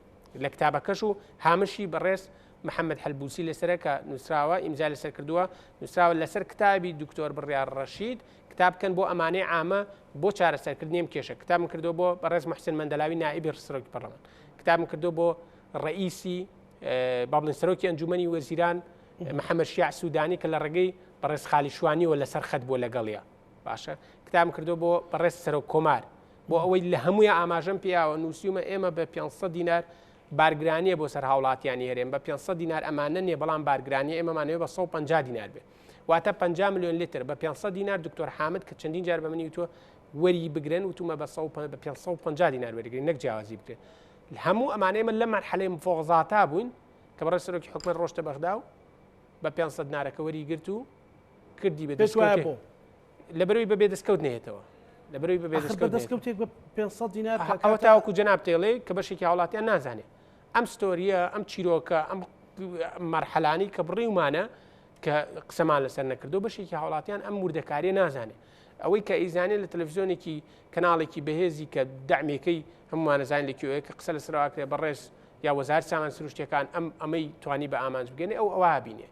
لە کتابەکەش و هامشی بەڕێز محەممەد حەلبووسی لەسەرە کە نووسراوە ئیمزای لەسەر کردووە نووسراوە لەسەر کتابی دکتۆر بڕیار ڕەشید کتاب بکەن بۆ ئەمانەی عامە بۆ چارەسەرکردنی ئەم کێشە کتابم کردو بۆ بەڕێز محسن مندەلاوی نائبی ڕسرۆکی پەرلەمان کتابم کردو بۆ ڕئیسی بابلن سەرۆکی ئەنجومنی وەزیران محەممەد شیع سوودانی کە لە ڕێگەی بەڕێز خالیشوانیەوە لەسەر خەت بۆ لەگەڵە باشە کتابم کردو بۆ بەڕێز سەرۆک کۆمار بۆ ئەوەی لە هەمووی ئاماژەم پیاوە نووسیومە ئێمە بە 500 دینار بارگرانیە بۆ سەر هاوڵاتیانی هەرێم بە 500 دینار ئەمانە نیە بەڵام بارگرانی ئێمەمانەوە بە 150 دینار بێ واتە 50 میلیۆن لتر بە 500 دینار دکتۆر حامد کە چەندین جار بە منی وتوە وەری بگرن وتومە بە 550 دینار وەرگرین نەک جیاوازی بکرێت هەموو ئەمانەیە من لە مەرحەلەی مفۆغزاتا بووین کە بەڕێ سەرۆکی حکومت ڕۆشتە بەغدا و بە 500 نارەکە وەری گرت و کردی بە پێت وایە دەستکەوتێ بۆ؟ لەبەرەوەی بە بێدەستکەوت نەیەتەوە لەبەرەوەی بە ئەخر بە بێدەستکەوت نەیەتەوە دەستکەوتێک بە 500 دینار ئەها کاکە ئەوە تا تاوەکو جەنابت دەیڵێ کە بەشێکی هاوڵاتیان نازانێ ئەم ستۆرییە ئەم چیرۆکە ئەم مەرحەلانەی کە بڕیومانە کە قسەمان لەسەر نەکردو بەشێکی هاوڵاتیان ئەم وردەکاریە نازانێ ئەوەی کە ئیزانێ لە تەلەڤزیۆنێکی کەناڵێکی بەهێزی کە دەعمێکەی هەموومانەزانین لە کوێیە کە قسە لەسەرواکرێ بەڕێز یا وەزارەت سامان سروشتیەکان ئەم ئەمەی توانی بە ئامانج بگەنێ ئەو ئەوە بینێ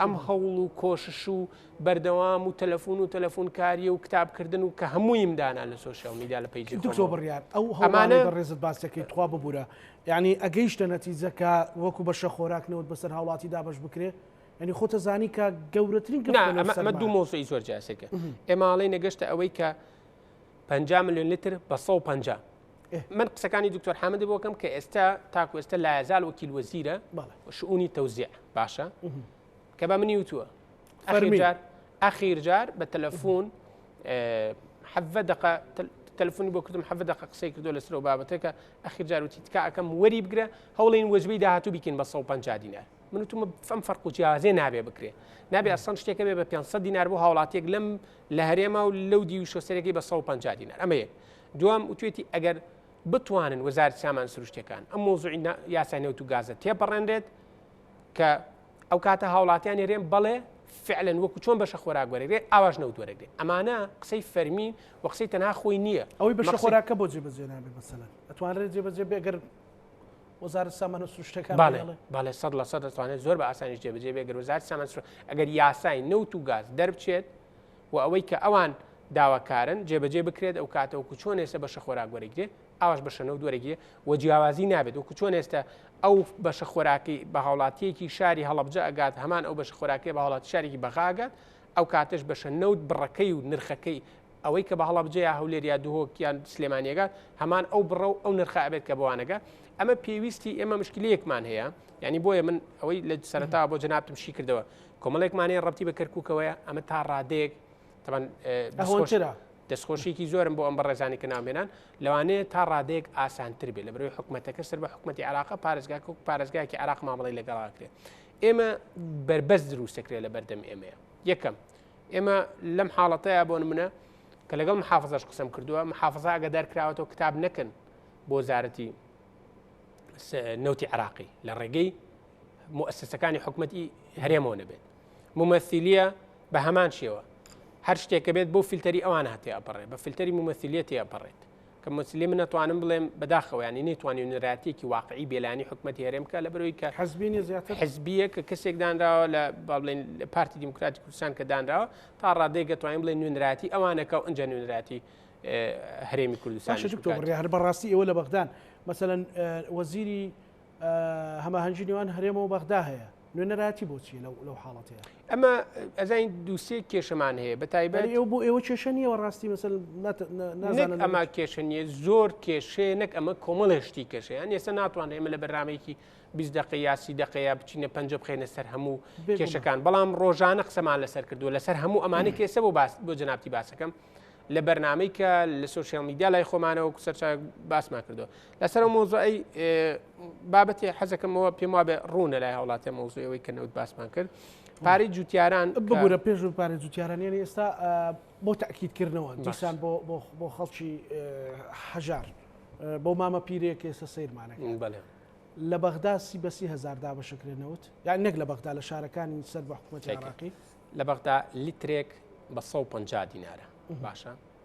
ئەم هەوڵ و کۆشش و بەردەوام و تەلەفون و تەلەفون کاریە و کتاب کردن و کە هەموویم دانا لە سۆشیال میدیا لە پەیجی خۆمەوە. دکتۆر بڕیار ئەو هەوڵانەی ئەمانە بەڕێزت باس دەکەی تخوا ببورە یانی ئەگەیشتە نەتیجە کە وەکو بەشە خۆراک نەوت بەسەر هاوڵاتی دابەش بکرێ؟ یانی خۆتە زانی کە گەورەترین گرفتە نا نەوت ئەمە ئەمە دوو سەرمایە. مەوزوعی زۆر جیاسەکە ئێمە ئەڵێین نەگەشتە ئەوەی کە پەنجا ملیۆن لتر بە سەد و پەنجا. من قسەکانی دکتۆر حامد بۆکەم کە ئێستا تاکو ئێستا لایزال وەکیل وەزیرە شعونی تەوزیع باشە کە بە منی وتووە ئەخیر جار بە تەلەفۆن حەڤە دقە تەلفۆنی بۆ کردم حەڤ دقە قسەی کردو لەسەر و بابەتەکە ئەخیر جاروتی تکاکەم وەری بگرە هەوڵین وەجبی داهاتوو بکەین بە 150 دینار من وتم فەم فەرق و جیازێ نابێ بکرێ نابێ ئەسان شتێکە بێ بە 500 دینار بۆ هاوڵاتێک لەم لە هەرێما و لەو دیوشۆسەرەکەی بە 150 دینار ئەمە یەک دوام وتوێتی ئەگەر بتوانن وەزارەتی سامان سروشتەکان ئەم مۆزوعی یاسای نەوت و گازە تێپەڕێنرێت کە ئەو کاتە هاوڵاتیان نێرێن بەڵێ فعلەن وەکو چۆن بەشە خۆراک وەرەگرێت ئاواش نەوت وەرەگرێت ئەمانە قسەی فەرمی و قسەی تەنها خۆی نییە ئەوەی بەشە خۆراکە بۆ جێبەجێ نابێت مەسەلەن ئەتوانرێت جێبەجێ بێگەر وەزارت سامانە سروشتەکان باڵێ سەد لە سەد دەتوانێت زۆر بە ئاسانی جێبجێ بێ گەروزار سامان ئەگەر یاسای نەوت و گاز دەربچێت و ئەوەی کە ئەوان داواکارن جێبەجێ بکرێت ئەو کاتە وەکو چۆن ئێستا بەشە خۆراک وەرەگرێ ئاواش بەشە نەوت وەرەگرێ و جیاوازی نابێت وەکو چۆن ئێستا ئەو بەشە خۆراکی بە هاوڵاتیەکی شاری هەڵبجە ئەگات هەمان ئەو بەشە خۆراکی بە هاوڵات شارێکی بەغاگات ئەو کاتش بەشە نەوت بڕەکەی و نرخەکەی ئەوەی کە بە هەڵبجە یا هەولێر یا دهۆکیان سلێمانیەگات هەمان ئەو بڕە و ئەو نرخە ئەبێت کە بوانەگە ئەمە پێویستی ئێمە مشکلەیەکمان هەیە ینی بۆیە من ئەوەی لە سەرتا بۆ جنابتم شی کردەوە کۆمەڵێک مانێ ڕەتی بە کەرککەوەیە ئەمە تا ڕادەیەک تەمان ئەهۆنترە دەستخۆشیکی زۆرم بۆ ئەم بە ڕێزانی کە ناومێنان لەوانەیە تا ڕادێک ئاسانتر بێت لە بەرەوەی حکوومەتەکە سەر بە حکوومەتتی عراقە پارێزگاکە و پارێزگاکی عراق مامەڵی لەگەڵاکرێت ئێمە بربەست دروستەکرێت لە بەردەم ئێمەیە یەکەم ئێمە لەم حاڵەتەیە بۆن منە کە لەگەڵ محافظش قسم کردووە محافظە ئەگە دەرکراوەەوە کتاب نەکەن بۆ زارەتی نەوتی عراقی لە ڕێگەی موسسەکانی حکومەتی هەرێمەوە نەبێت ممەثیلیە بە هەمان شێوە هەر شتێکە بێت بۆ فیلتەری ئەوان هاتی ئەپەڕێ بە فیلتەری ممەثیلیەتی ئەپەڕێت کە مسلی من ناتوانم بڵێم بەداخەوەیانی نەیتوانانی نراتێکی واقعی بێلانی حکومەتی هەرێم کە لە بەرەوەی کە حزبینی زیاتر حزبیە کە کەسێک دانراوە لە باڵێن پارتی دیموکراتی کوردستان کە دانراوە تا ڕادێکگە توانین بڵێ نوێنراتی ئەوانەکە و ئەنج نوێنراتی هەرێمی کوردستان هەر بەڕاستی ئەوە لە بەغدان مەسەەن وەزیری هەماهەنگی نێوان هەرێمە و بەغدا هەیە نوێنەرایەتی بۆچیە لەو لەو حاڵەتەیە ئەمە ئەزین دووسێ کێشەمان هەیە بە تایبەت ئێوە بۆ ئێوە کێشە نیەوە ڕاستی مەسەل ئەما کێشە نیە زۆر کێشەیە نەک ئەمە کۆمەڵێشتی کێشەیان ئێستا ناتوان ئێمە لە بەرنمێکی بیست دقی یاسی دقەیە بچینە پنج بخێنە سەر هەموو کێشەکان بەڵام ڕۆژانە قسەمان لەسەر کردووە لەسەر هەموو ئەمانە کێسە بۆ باس بۆ جنابتی باسەکەم لە بەرنمەی کە لە سوسیال میدیا لای خۆمانەوە سەرچاو باسمان کردو لەسەر ئەو مۆزۆی بابەتی حەزەکەمەوە پێم وابێ ڕوونە لای هاوڵاتە مۆزۆیەوەی کە نەوت باسمان کرد پارەی جوتیاران بگورە پێش و پارە جوتیارانیان ئێستا بۆ تاکیدکردنەوە دیسان بۆ خەڵکی هەژار بۆ مامە پیرێک ئێستا سیرمانە لە بەغدا سی بەسی هزار دابەشەکرێنەوت یان نەک لە بەغدا لە شارەکانی سەر بە حکوومەتی عراقی لە بەغدا لیترێک بە 150 دینارە باشە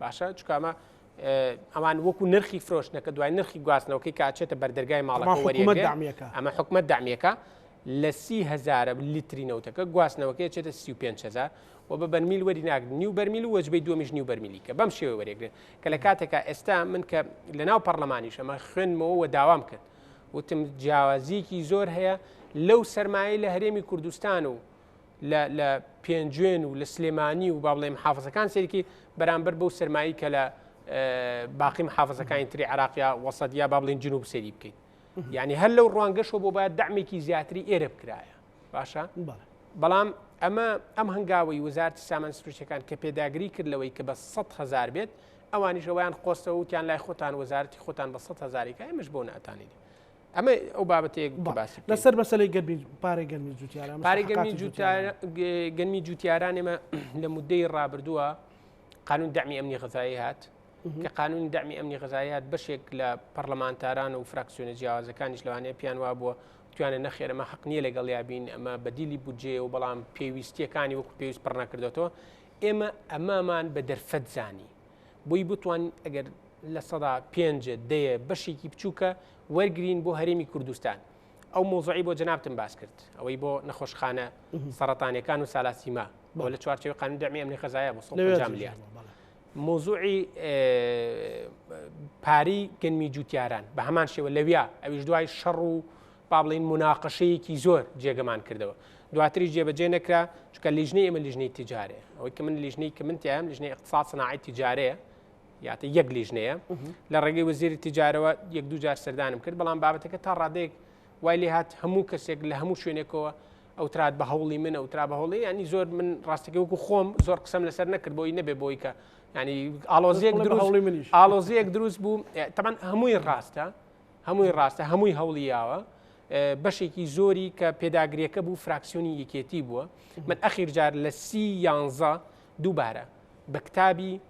باشە چکمە ئەوان وەکو نرخی فرۆشتنەکە دوای نرخی گواستنەوەکەی کاچێتە بەردەرگای ماڵەکە ئەمە حکومت دامیەکە لە سی هزار لیتری نەوتەکە گواستنەوەکەی چێتە سی و هزار و بە بەرمیل وەری ناگرن نیو بەرمیل و وەجبەی دومیش نیو بەرمیلی کە بەم شێوە وەرێگرن کە لە کاتێکا ئێستا من کە لە ناو پەرلەمانیش ئەمە خوێنمەوە و داوام کرد وتم جیاوازیەکی زۆر هەیە لەو سەرمایە لە هەرێمی کوردستان و لە پێنجوێن و لە سلێمانی و با بڵێ محافزەکان سێرکی بەرامبەر بەو سەرمایی کە لە باقی محافزەکانی تری عراقیا وەسەد یا با بڵین جنوب سێری بکەیت یعنی هەر لەو ڕوانگەشەوە بۆ باید دامێکی زیاتری ئێرە بکرایە باشە بەڵام ئەمە ئەم هەنگاوی وزارتی سامان سروشتەکان کە پێداگری کرد لەوەی کە بە 100 هزار بێت ئەوانیشەوەیان خۆستەوە وتیان لای خۆتان وەزارتی خۆتان بە 100 هزارێکە ئەمەش بۆ ناتانێت ئەمە ئەو بابەتەیە باسی لەسەر مەسلەی گەرمی پارێ گەرمی جوتیاران پارێ گەرمی گەرمی جوتیارانێمە لە مدەی ڕابردووە قانون دەمی ئەمنی غذایی هات کە قانونی دەمی ئەمنی غذایی هات بەشێک لە پەرلەمانتاران و فراکسیۆنە جیاوازەکانیش لەوانەیە پیان وا بووە توانە نەخێرەمە حق نییە لەگەڵ یابین ئەمە بەدیلی بودجێ و بەڵام پێویستیەکانی وەکو پێویست پڕنەکردێتەوە ئێمە ئەمامان بە دەرفەت زانی بۆی بتوان ئەگەر لە سەدا پێنجە دەیە بەشێکی بچووکە وەرگین بۆ هەرێمی کوردستان ئەو مۆزعی بۆ جنابتم باس کرد ئەوەی بۆ نەخۆشخانە سەرەتانەکان و سالاسیما بۆ لە چوارچەوە قانون دەمی ئەمنی خەزایە بۆ میلیارد مۆزوعی پاری گەنمی جوتیاران بە هەمان شێوە لەویا ئەویش دوای شەڕ و با بڵێین موناقەشەیەکی زۆر جێگەمان کردەوە دواتریش جێبەجێ نەکرا چکە لیژنەی ئمە لیژنەی تجارێ ئەوەی کە من لیژنەی کە من تیایم لیژنەی اقتصاد صناعی تجارەیە یاتە یەک لیژنەیە لە ڕێگەی وەزیری تجارەوە یەک دوو جار سەردانم کرد بەڵام بابەتەکە تا ڕادێک وای لێ هات هەموو کەسێک لە هەموو شوێنێکەوە ئەوترات بە هەوڵی من ئەوترا بە هەوڵی ینی زۆر من ڕاستەکە وەکو خۆم زۆر قسەم لەسەر نەکرد بۆی نەبێ بۆی کە ینی ئالۆزیەک دروست ئالۆزیەک دروست بوو تەمان هەمووی ڕاستە هەمووی ڕاستە هەمووی هەوڵی یاوە بەشێکی زۆری کە پێداگرێکە بوو فراکسیۆنی یەکێتی بووە من ئەخیرجار لە سی یانزە دووبارە بە کتابی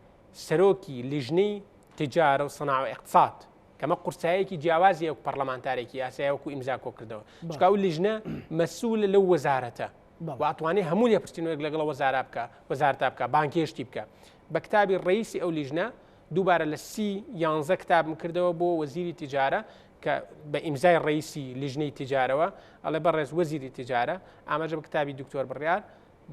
سەرۆکی لیژنەی تجارە و سەناوە اقتصاد کەمە قورسایەکی جیاوازی ئەو پەرلەمانتارێکی یاسایەکو ئیمزا کۆ کردەوە چکا و لیژنە مەسوولە لەو وەزارەتە واتوانێت هەموو لێپرسینەوەک لەگەڵ وەزارا بکە وەزارتا بکە بانکێشتی بکە بە کتابی ڕەیسی ئەو لیژنە دووبارە لە سی یانزە کتابم کردەوە بۆ وەزیری تجارە کە بە ئیمزای ڕیسی لیژنەی تجارەوە ئەڵێ بە ڕێز وەزیری تجارە ئاماژە بە کتابی دکتۆر بڕیار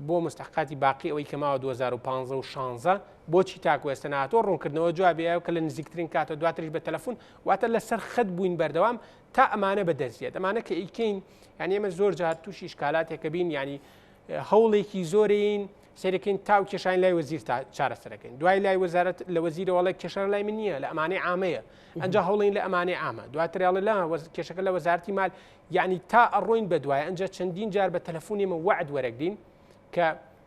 بۆ مستحقاتی باقی ئەوەی کە ماوە 2015 و 16 بۆچی تاکو ئێستا ناتۆ ڕوونکردنەوە جوابەیە کە لە نزیکترین کاتە دواتریش بە تەلەفۆن واتە لەسەر خەت بووین بەردەوام تا ئەمانە بە دەستێت ئەمانە کە ئیکەین یعنی ئمە زۆر جار تووشی شکالاتێکە بین ینی هەوڵێکی زۆرین سەرکەین تاو کێشان لای وەزیر چارەسەرەکەین دوای لای وەزارت لە وەزیرەوەڵی کێشان لای من نییە لە ئەمانەی ئامەیە ئەنج هەوڵین لە ئەمانەی ئامە دواترێڵە لە کێشەکە لە وەزارتی مال یعنی تا ئەڕۆین بە دوای ئەنج چەندین جار بە تەلەفۆنیمە وعد وەرەگرین کە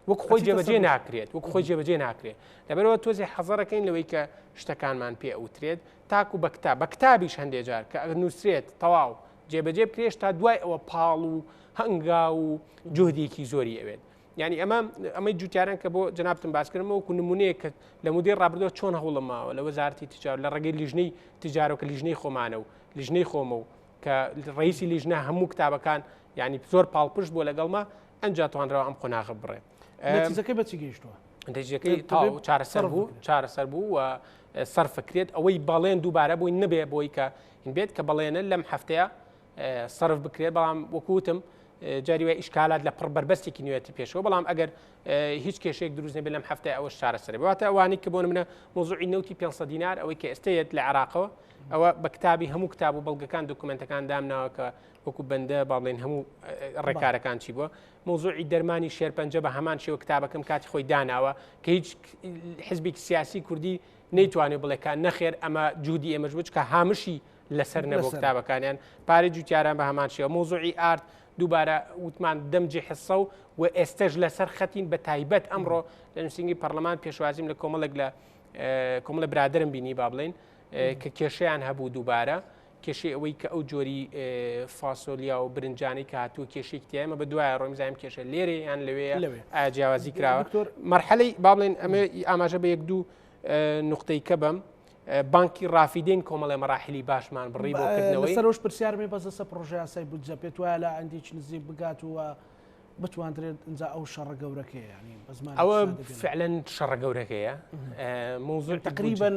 وەک خۆی جێبەجێ ناکرێت وەک خۆی جێبەجێ ناکرێت لەبەرەوە تۆزی حەزەرەکەین لەوەی کە شتەکانمان پێ ئەوترێت تاکو بەکتا بە کتابیش هەندێک جار کە ئەگەر نووسرێت تەواو جێبەجێ بکرێش تا دوای ئەوە پاڵ و هەنگاو و جهدێکی زۆری ئەوێت ینی ئەمە ئەمەی جوتیاران کە بۆ جنابتم باسکردم وەکو نمونەیە کە لە مدەی ڕابردۆ چۆن هەوڵم ماوە لە وەزارتی تجار لە ڕێگەی لیژنەی تجارۆکە لیژنەی خۆمانە و لیژنەی خۆمە و کە ڕیسی لیژنە هەموو کتابەکان ینی زۆر پاڵپشت بۆ لەگەڵمە ئەنج توانرەوە ئەم قۆناغە بڕێت نەتیجەکەی بەچی گەیشتووە نتیجەکەی تاو چارەسەر بوو چارەسەر بوو و سەرفکرێت ئەوەی بەڵێن دووبارە بووی نەبێ بۆی کە بێت کە بەڵێنە لەم هەفتەیە سرف بکرێت بەڵام وەکوتم جاری وای ئیشکالات لە پڕ بەربەستێکی نوێتی پێشەوە بەڵام ئەگەر هیچ کێشێک دروست نەبێت لەم هەفتای ئەوە چارەسەر باتە ئەوانی کە بۆ منە مۆزوعی نوتی 500 دینار ئەوەی کە ئێستەیەت لە عراقەوە ئەوە بە کتابی هەموو کتاب و بەڵگەکان دکومنتەکان دامناوە کە وەکو بەندە باڵێن هەموو ڕێکارەکان چی بووە مەوزوعی دەرمانی شێرپەنجە بە هەمان شێوە کتابەکەم کاتی خۆی داناوە کە هیچ حزبێکی سیاسی کوردی نەیتوانێت بڵێکان نەخێر ئەمە جوودی ئێمەش بچکە هامشی لەسەر نەبوو کتابەکانیان پارێ جوتیاران بە هەمان شێوە مۆزوعی ئارد دووبارە وتمان دەمجی حسە و و ئێستش لەسەر خەتین بە تایبەت ئەمڕۆ لە نووسنگی پەرلەمان پێشوازیم لە کۆمەڵێک لە کۆمەڵە برادرم بینی با بڵین کە کێشیان هەبوو دووبارە کێشەی ئەوەی کە ئەو جۆری فاسۆلیا و برنجانەی کە هاتووە کێشێک تیایمە بە دوایە ڕۆیم زایم کێشە لێرە یان لەوێ لەوێ ئاجیاوازی کراوە دکتۆر مەرحەلەی با بڵێن ئەمە ئاماژە بە یەک دوو نقطەی کە بم بانکی ڕافیدین کۆمەڵی مەراحلی باشمان بڕی بۆ کردنەوەی سەرۆش پرسیارمی بەسەسە پرۆژیاسای بودجە پێت وایە لە ئەندیچ نزیک بگات و بتواندرێت ئەجا ئەو شەڕە گەورەکەیە ینی بەزمان ئەوە فعلەن شەڕە گەورەکەیە موزل تقریبن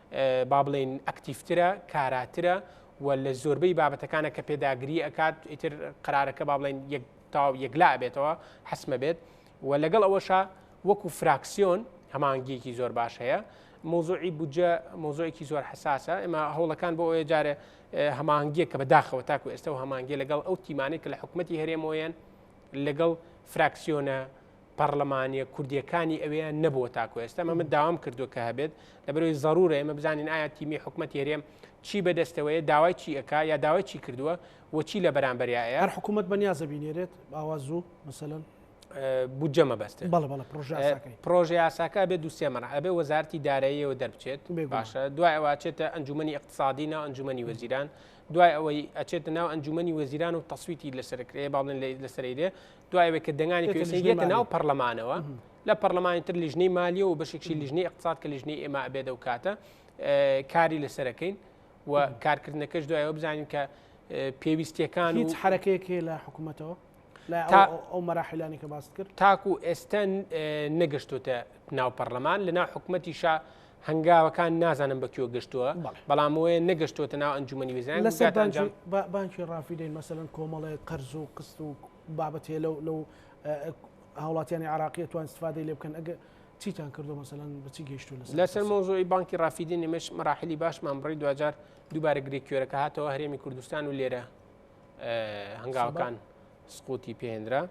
با بڵێین ئەکتیفترە کاراترە و لە زۆربەی بابەتەکانە کە پێداگری ئەکات ئیتر قرارەکە با بڵێن یەک تاو یەکلا بێتەوە حسمە بێت و لەگەڵ ئەوەشە وەکو فراکسیۆن هەمانگیەکی زۆر باش هەیە مۆزۆی بودجە مۆزۆیەکی زۆر حساسە ئمە هەوڵەکان بۆ ئەوێ جارێ هەمانگیە کە بەداخەوە تاکو ئێستا و هەمانگیە لەگەڵ ئەو تیمانێک کە لە حکوومەتتی هەرێمۆیەن لەگەڵ فراکسیۆنە پەڕلەمانیە کوردیەکانی ئەوێ نەبووە تاکو ئێستا ئەمە من داوام کردووە کە هەبێت لەبەرەوەی ضرورە ئێمە بزانین ئایا تیمی حکوومەتی هەرێم چی بەدەستەوەیە داوای چی ئەک یا داوای چی کردووە وەچی لە بەرامبەریایە هەر حکوومەت بە نیازە بینێرێت ئاوا زوو مەسەن بودجە مەبەست پرۆژە یاساکە بێ دوسێ مەرا ئەبێ وەزارتی داراییەوە دەربچێت باشە دوای ئەوواچێتە ئەنجومی اقتصادی ناو ئەنجومی وەزیران دوای ئەوەی ئەچێتە ناو ئەنجومی وەزیران و تەسویتی لەسەرکرێ باڵێن لەسەرێ دوای ئەوەی کە دەنگانی پێویستیش دێتە ناو پەرلەمانەوە لە پەرلەمانی تر لیژنەی مالیە و بەشێکی لیژنەی اقتصاد کە لیژنەی ئێمە ئەبێت و کاتە کاری لەسەرەکەین و کارکردنەکەش دوایەوە بزانین کە پێویستیەکان هیچ حرەکەیەک هەیە لە حکوومەتەوە ئەو مەراحلانی کە باست کرد تاکو ئێستا نەگەشتوتە ناو پەرلەمان لە ناو حکوومەتیشا هەنگاوەکان نازانم بە کوێ گەشتووە بەڵام وەیە نەگەشتوتە ناو ئەنجومی وزیان لەسەرجان بانکی ڕافیدەین مەسەن کۆمەڵێک قەرز و قست و بابەت هەیە لەو لەو هاوڵاتیانی عراقیە توان استفادەی لێ بکەن ئەگە چیتان کردو مەسەن بچی گەشتو لەسەر مۆزۆی بانکی ڕافیدی نمەش مەراحلی باشمان بڕی دوجار دووبارە گرێ کوێرەکە هاتەوە هەرێمی کوردستان و لێرە هەنگاوەکان سقوتی پێهێنرا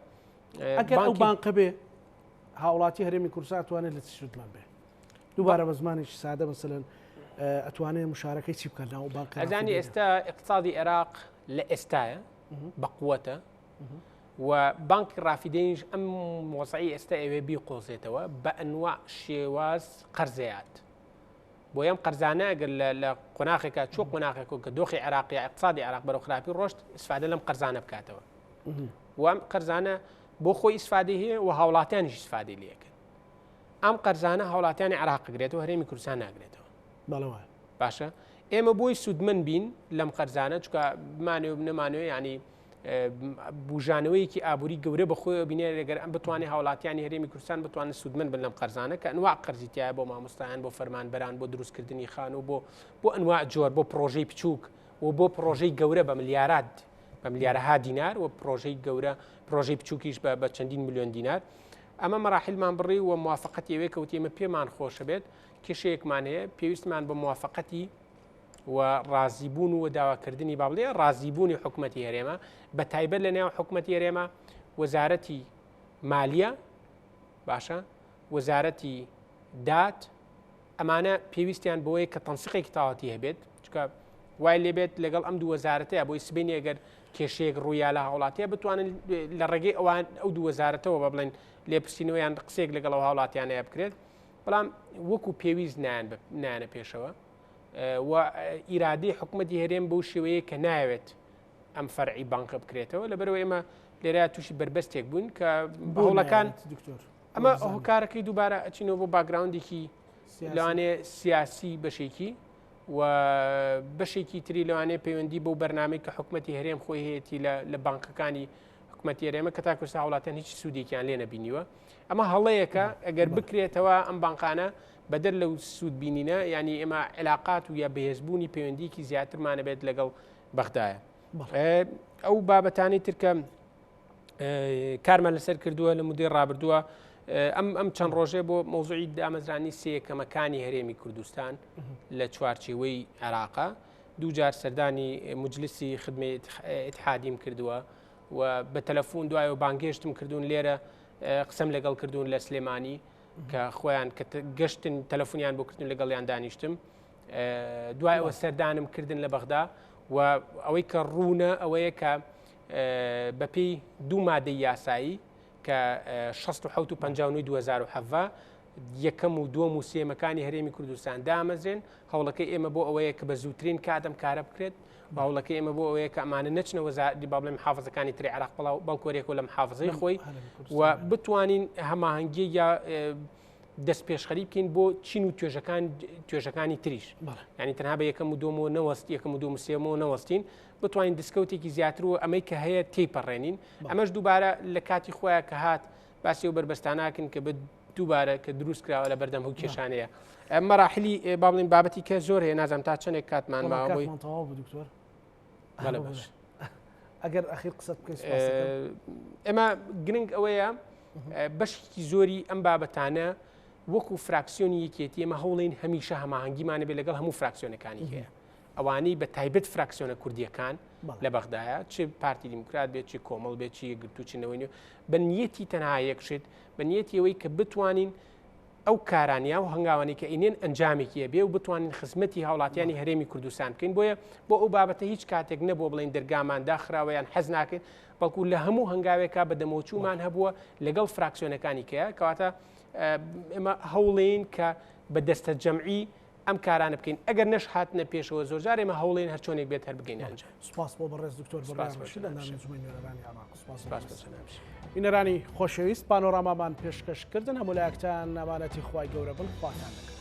ئەگەر ئەو بانقە بێ هاوڵاتی هەرێمی کورساتوانێت لە چشتمان بێ دووبارە بە زمانێکی سادە مەسەن ئەتوانێت مشارەکەی چی بکەن ناو بانک ئەزانی ئێستا اقتصادی عێراق لە ئێستاە بەقوەتە و بانکی ڕافیدەینش ئەم مۆزعی ئێستا ئەوێ بیقۆزێتەوە بە ئەنوا شێواز قەرزەیات بۆ ئەم قەرزانە گەر لە قۆناخێکە چۆ قۆناخێک و کە دۆخی عراقی اقتصادی عراق بەرەو خراپی ڕۆشت سفادە لەم قەرزانە بکاتەوە وام قەرزانە بۆ خۆی ئیسفادی هەیە و هاوڵاتیانیش سفادی لەکەن ئەم قەرزانە هاوڵاتیانی عراق گرێتەوە هەرێمی کوردستان ناگرێتەوە بەڵەوە باشە ئێمە بۆی سوودمن بین لەم قەرزانە چکە بمانێ و نەمانوێ ینی بژانەوەیەکی ئابووری گەورە بەخۆی بینێ لەگەر ئەم بتوانێت هاوڵاتیانی هەرێمی کوردستان بتوانن سوودمن بن لەم قەرزانە کە ئەنوا قەرزیتیایە بۆ مامۆستایان بۆ فەرمانبەران بۆ دروستکردنی خان و بۆ بۆ ئەنوا جۆر بۆ پرۆژەی بچووک و بۆ پرۆژەی گەورە بە ملیارات بە ملیارەها دینار و پرۆژەی گەورە پرۆژەی بچووکیش بە چەندین میلیۆن دینار ئەمە مەراحیلمان بڕی و موافەقەتی ئەوێ کەوتی ئمە پێمان خۆشە بێت کێشەیەکمان هەیە پێویستمان بە موافەقەتی و ڕازیبوون و داواکردنی بابلێ ڕازیبوونی حکوومەتتی هەرێمە بە تایبەت لە نێو حکوومەتتی هەرێمە وەزارەتی مالیە باشە وەزارەتی دات ئەمانە پێویستیان بۆیە کە تەنسیقێکی تاواتی هەبێت چکە وای لێبێت لەگەڵ ئەم دووەزارەتەیە بۆی سبینی ئەگەر کێشەیەک ڕوویا لە هاوڵاتیە بتوانن لە ڕێگەی ئەوان ئەو دووەزارەتەوە بە بڵێن لێپرسینەوەیان قسێک لەگەڵ ئەو هاوڵاتیانەیە بکرێت بەڵام وەکو پێویست نایان نایانە پێشەوە و ئیرادی حکوومەتتی هەرێم بەو شێوەیە کە ناوێت ئەم فەرعی بانکە بکرێتەوە لەبەرەوە ئێمە لێرە تووشی بربەستێک بوون کە بەڵەکان دکتۆر ئەمە هۆکارەکەی دووبارە ئەچینەوە بۆ باگراوندێکی لەوانێ سیاسی بەشێکی و بەشێکی تری لەوانێ پەیوەندی بۆ بەرنمەی کە حکوومەتتی هەرێم خۆی هەیەی لە بانکەکانی حکوومەتتی هەرێمە کە تاکوستا وڵاتەن هیچ سوودێکیان لێ نەبینیوە ئەمە هەڵەیەکە ئەگەر بکرێتەوە ئەم بانقانە بەدەر لەو سوود بینینە ینی ئێمە علااقات و یا بەهێزبوونی پەیوەندیکی زیاترمانەبێت لەگەڵ بەغدایە ئەو بابەتانی ترکەم کارمان لەسەر کردووە لە مدەی ڕابردووە ئەم ئەم چەند ڕۆژێ بۆ مۆزوعی دامەزرانی سێکەمەکانی هەرێمی کوردستان لە چوارچێوەی عێراقا دووجار سەردانی مجلسی خدمە اتحادیم کردووە و بە تەلەفۆن دوای و بانگهێشتم کردوون لێرە قسەم لەگەڵ کردوون لە سلێمانی کە خۆیان کە گەشتن تەلەفۆنیان بۆ کردن لەگەڵیان دانیشتم دوایەوە سەردانم کردن لە بەغدا و ئەوەی کە ڕوونە ئەوەیە کە بەپێی دوو مادەی یاسایی کە شەست و حەوت و پەنجا و نۆی دوو هەزار و حەڤە، یەکەم و دووەم و سێیەمەکانی هەرێمی کوردستان دامەزرێن، هەوڵەکەی ئێمە بۆ ئەوەیە کە بە زووترین کات ئەم کارە بکرێت، هەوڵەکەی ئێمە بۆ ئەوەیە کە ئەمانە نەچنە وەزارەتی با بڵێم محافزەکانی تری عێراق بڵاو بەڵکو هەر یەکەوە لە محافزەی خۆی و بتوانین هەماهەنگی یا دەست پێشخەری بکەین بۆ چین و توێژەکان توێژەکانی تریش بەڵێ. یعنی تەنها بە یەکەم و دومەوە نەوەست یەکەم و دوم و سێمەوە نەوەستین بتوانین دیسکەوتێکی زیاتر و ئەمەی کە هەیە تێپەڕێنین ئەمەش دووبارە لە کاتی خۆیان کە هات باسی و بەربەستاناکن کە بە دووبارە کە دروست کراوە لە بەردەم هەو کێشانەیە مەراحلی باڵین بابەتی کە زۆر هەیە نازانم تا چەندێک کاتمان ماوەی دکتۆر ئەگەر ئەخیر قسە بکەیت ئێمە گرنگ ئەوەیە بەشێکی زۆری ئەم بابەتانە وەکو فراکسیۆنی یەکێتی ئمە هەوڵین هەمیشە هەماهنگگیمانە بێ لەگەڵ هەموو فراکسیۆنەکانی هەیە ئەوانەی بە تایبەت فراکسیۆنە کوردیەکان لە بەغدایە چ پارتی دیموکرات بێت چی کۆمەڵ بێت چی گرتو چنەوەی بە نیەتی تەنها یەکشێت بە نیەتی ئەوەی کە بتوانین ئەو کارانیا و هەنگاوانی کە ئینێن ئەنجامێکیە بێ و بتوانین خزمەتی هاوڵاتیانی هەرێمی کوردستان بکەین بۆیە بۆ ئەو بابەتە هیچ کاتێک نەبوو بڵێن دەرگامان داخراوەیان حەز ناکەین بەڵکو لە هەموو هەنگاوێکا بە دەمەوچومان هەبووە لەگەڵ فراکسیۆنەکانی کەە کەواتە ئێمە هەوڵین کە بە دەستە جەمعی ئەم کارانە بکەین ئەگەر نەش هاتنە پێشەوە زۆرجار ئێمە هەوڵێن هەر چۆنێک بێت هەر بگەین ئەنج سپاس بۆ بەڕێز دکتۆر بینەرانی خۆشەویست پانۆرامامان پێشکەشکردن هەموو لایەکتان نامانەتی خی گەورە بن خواتان دەکەن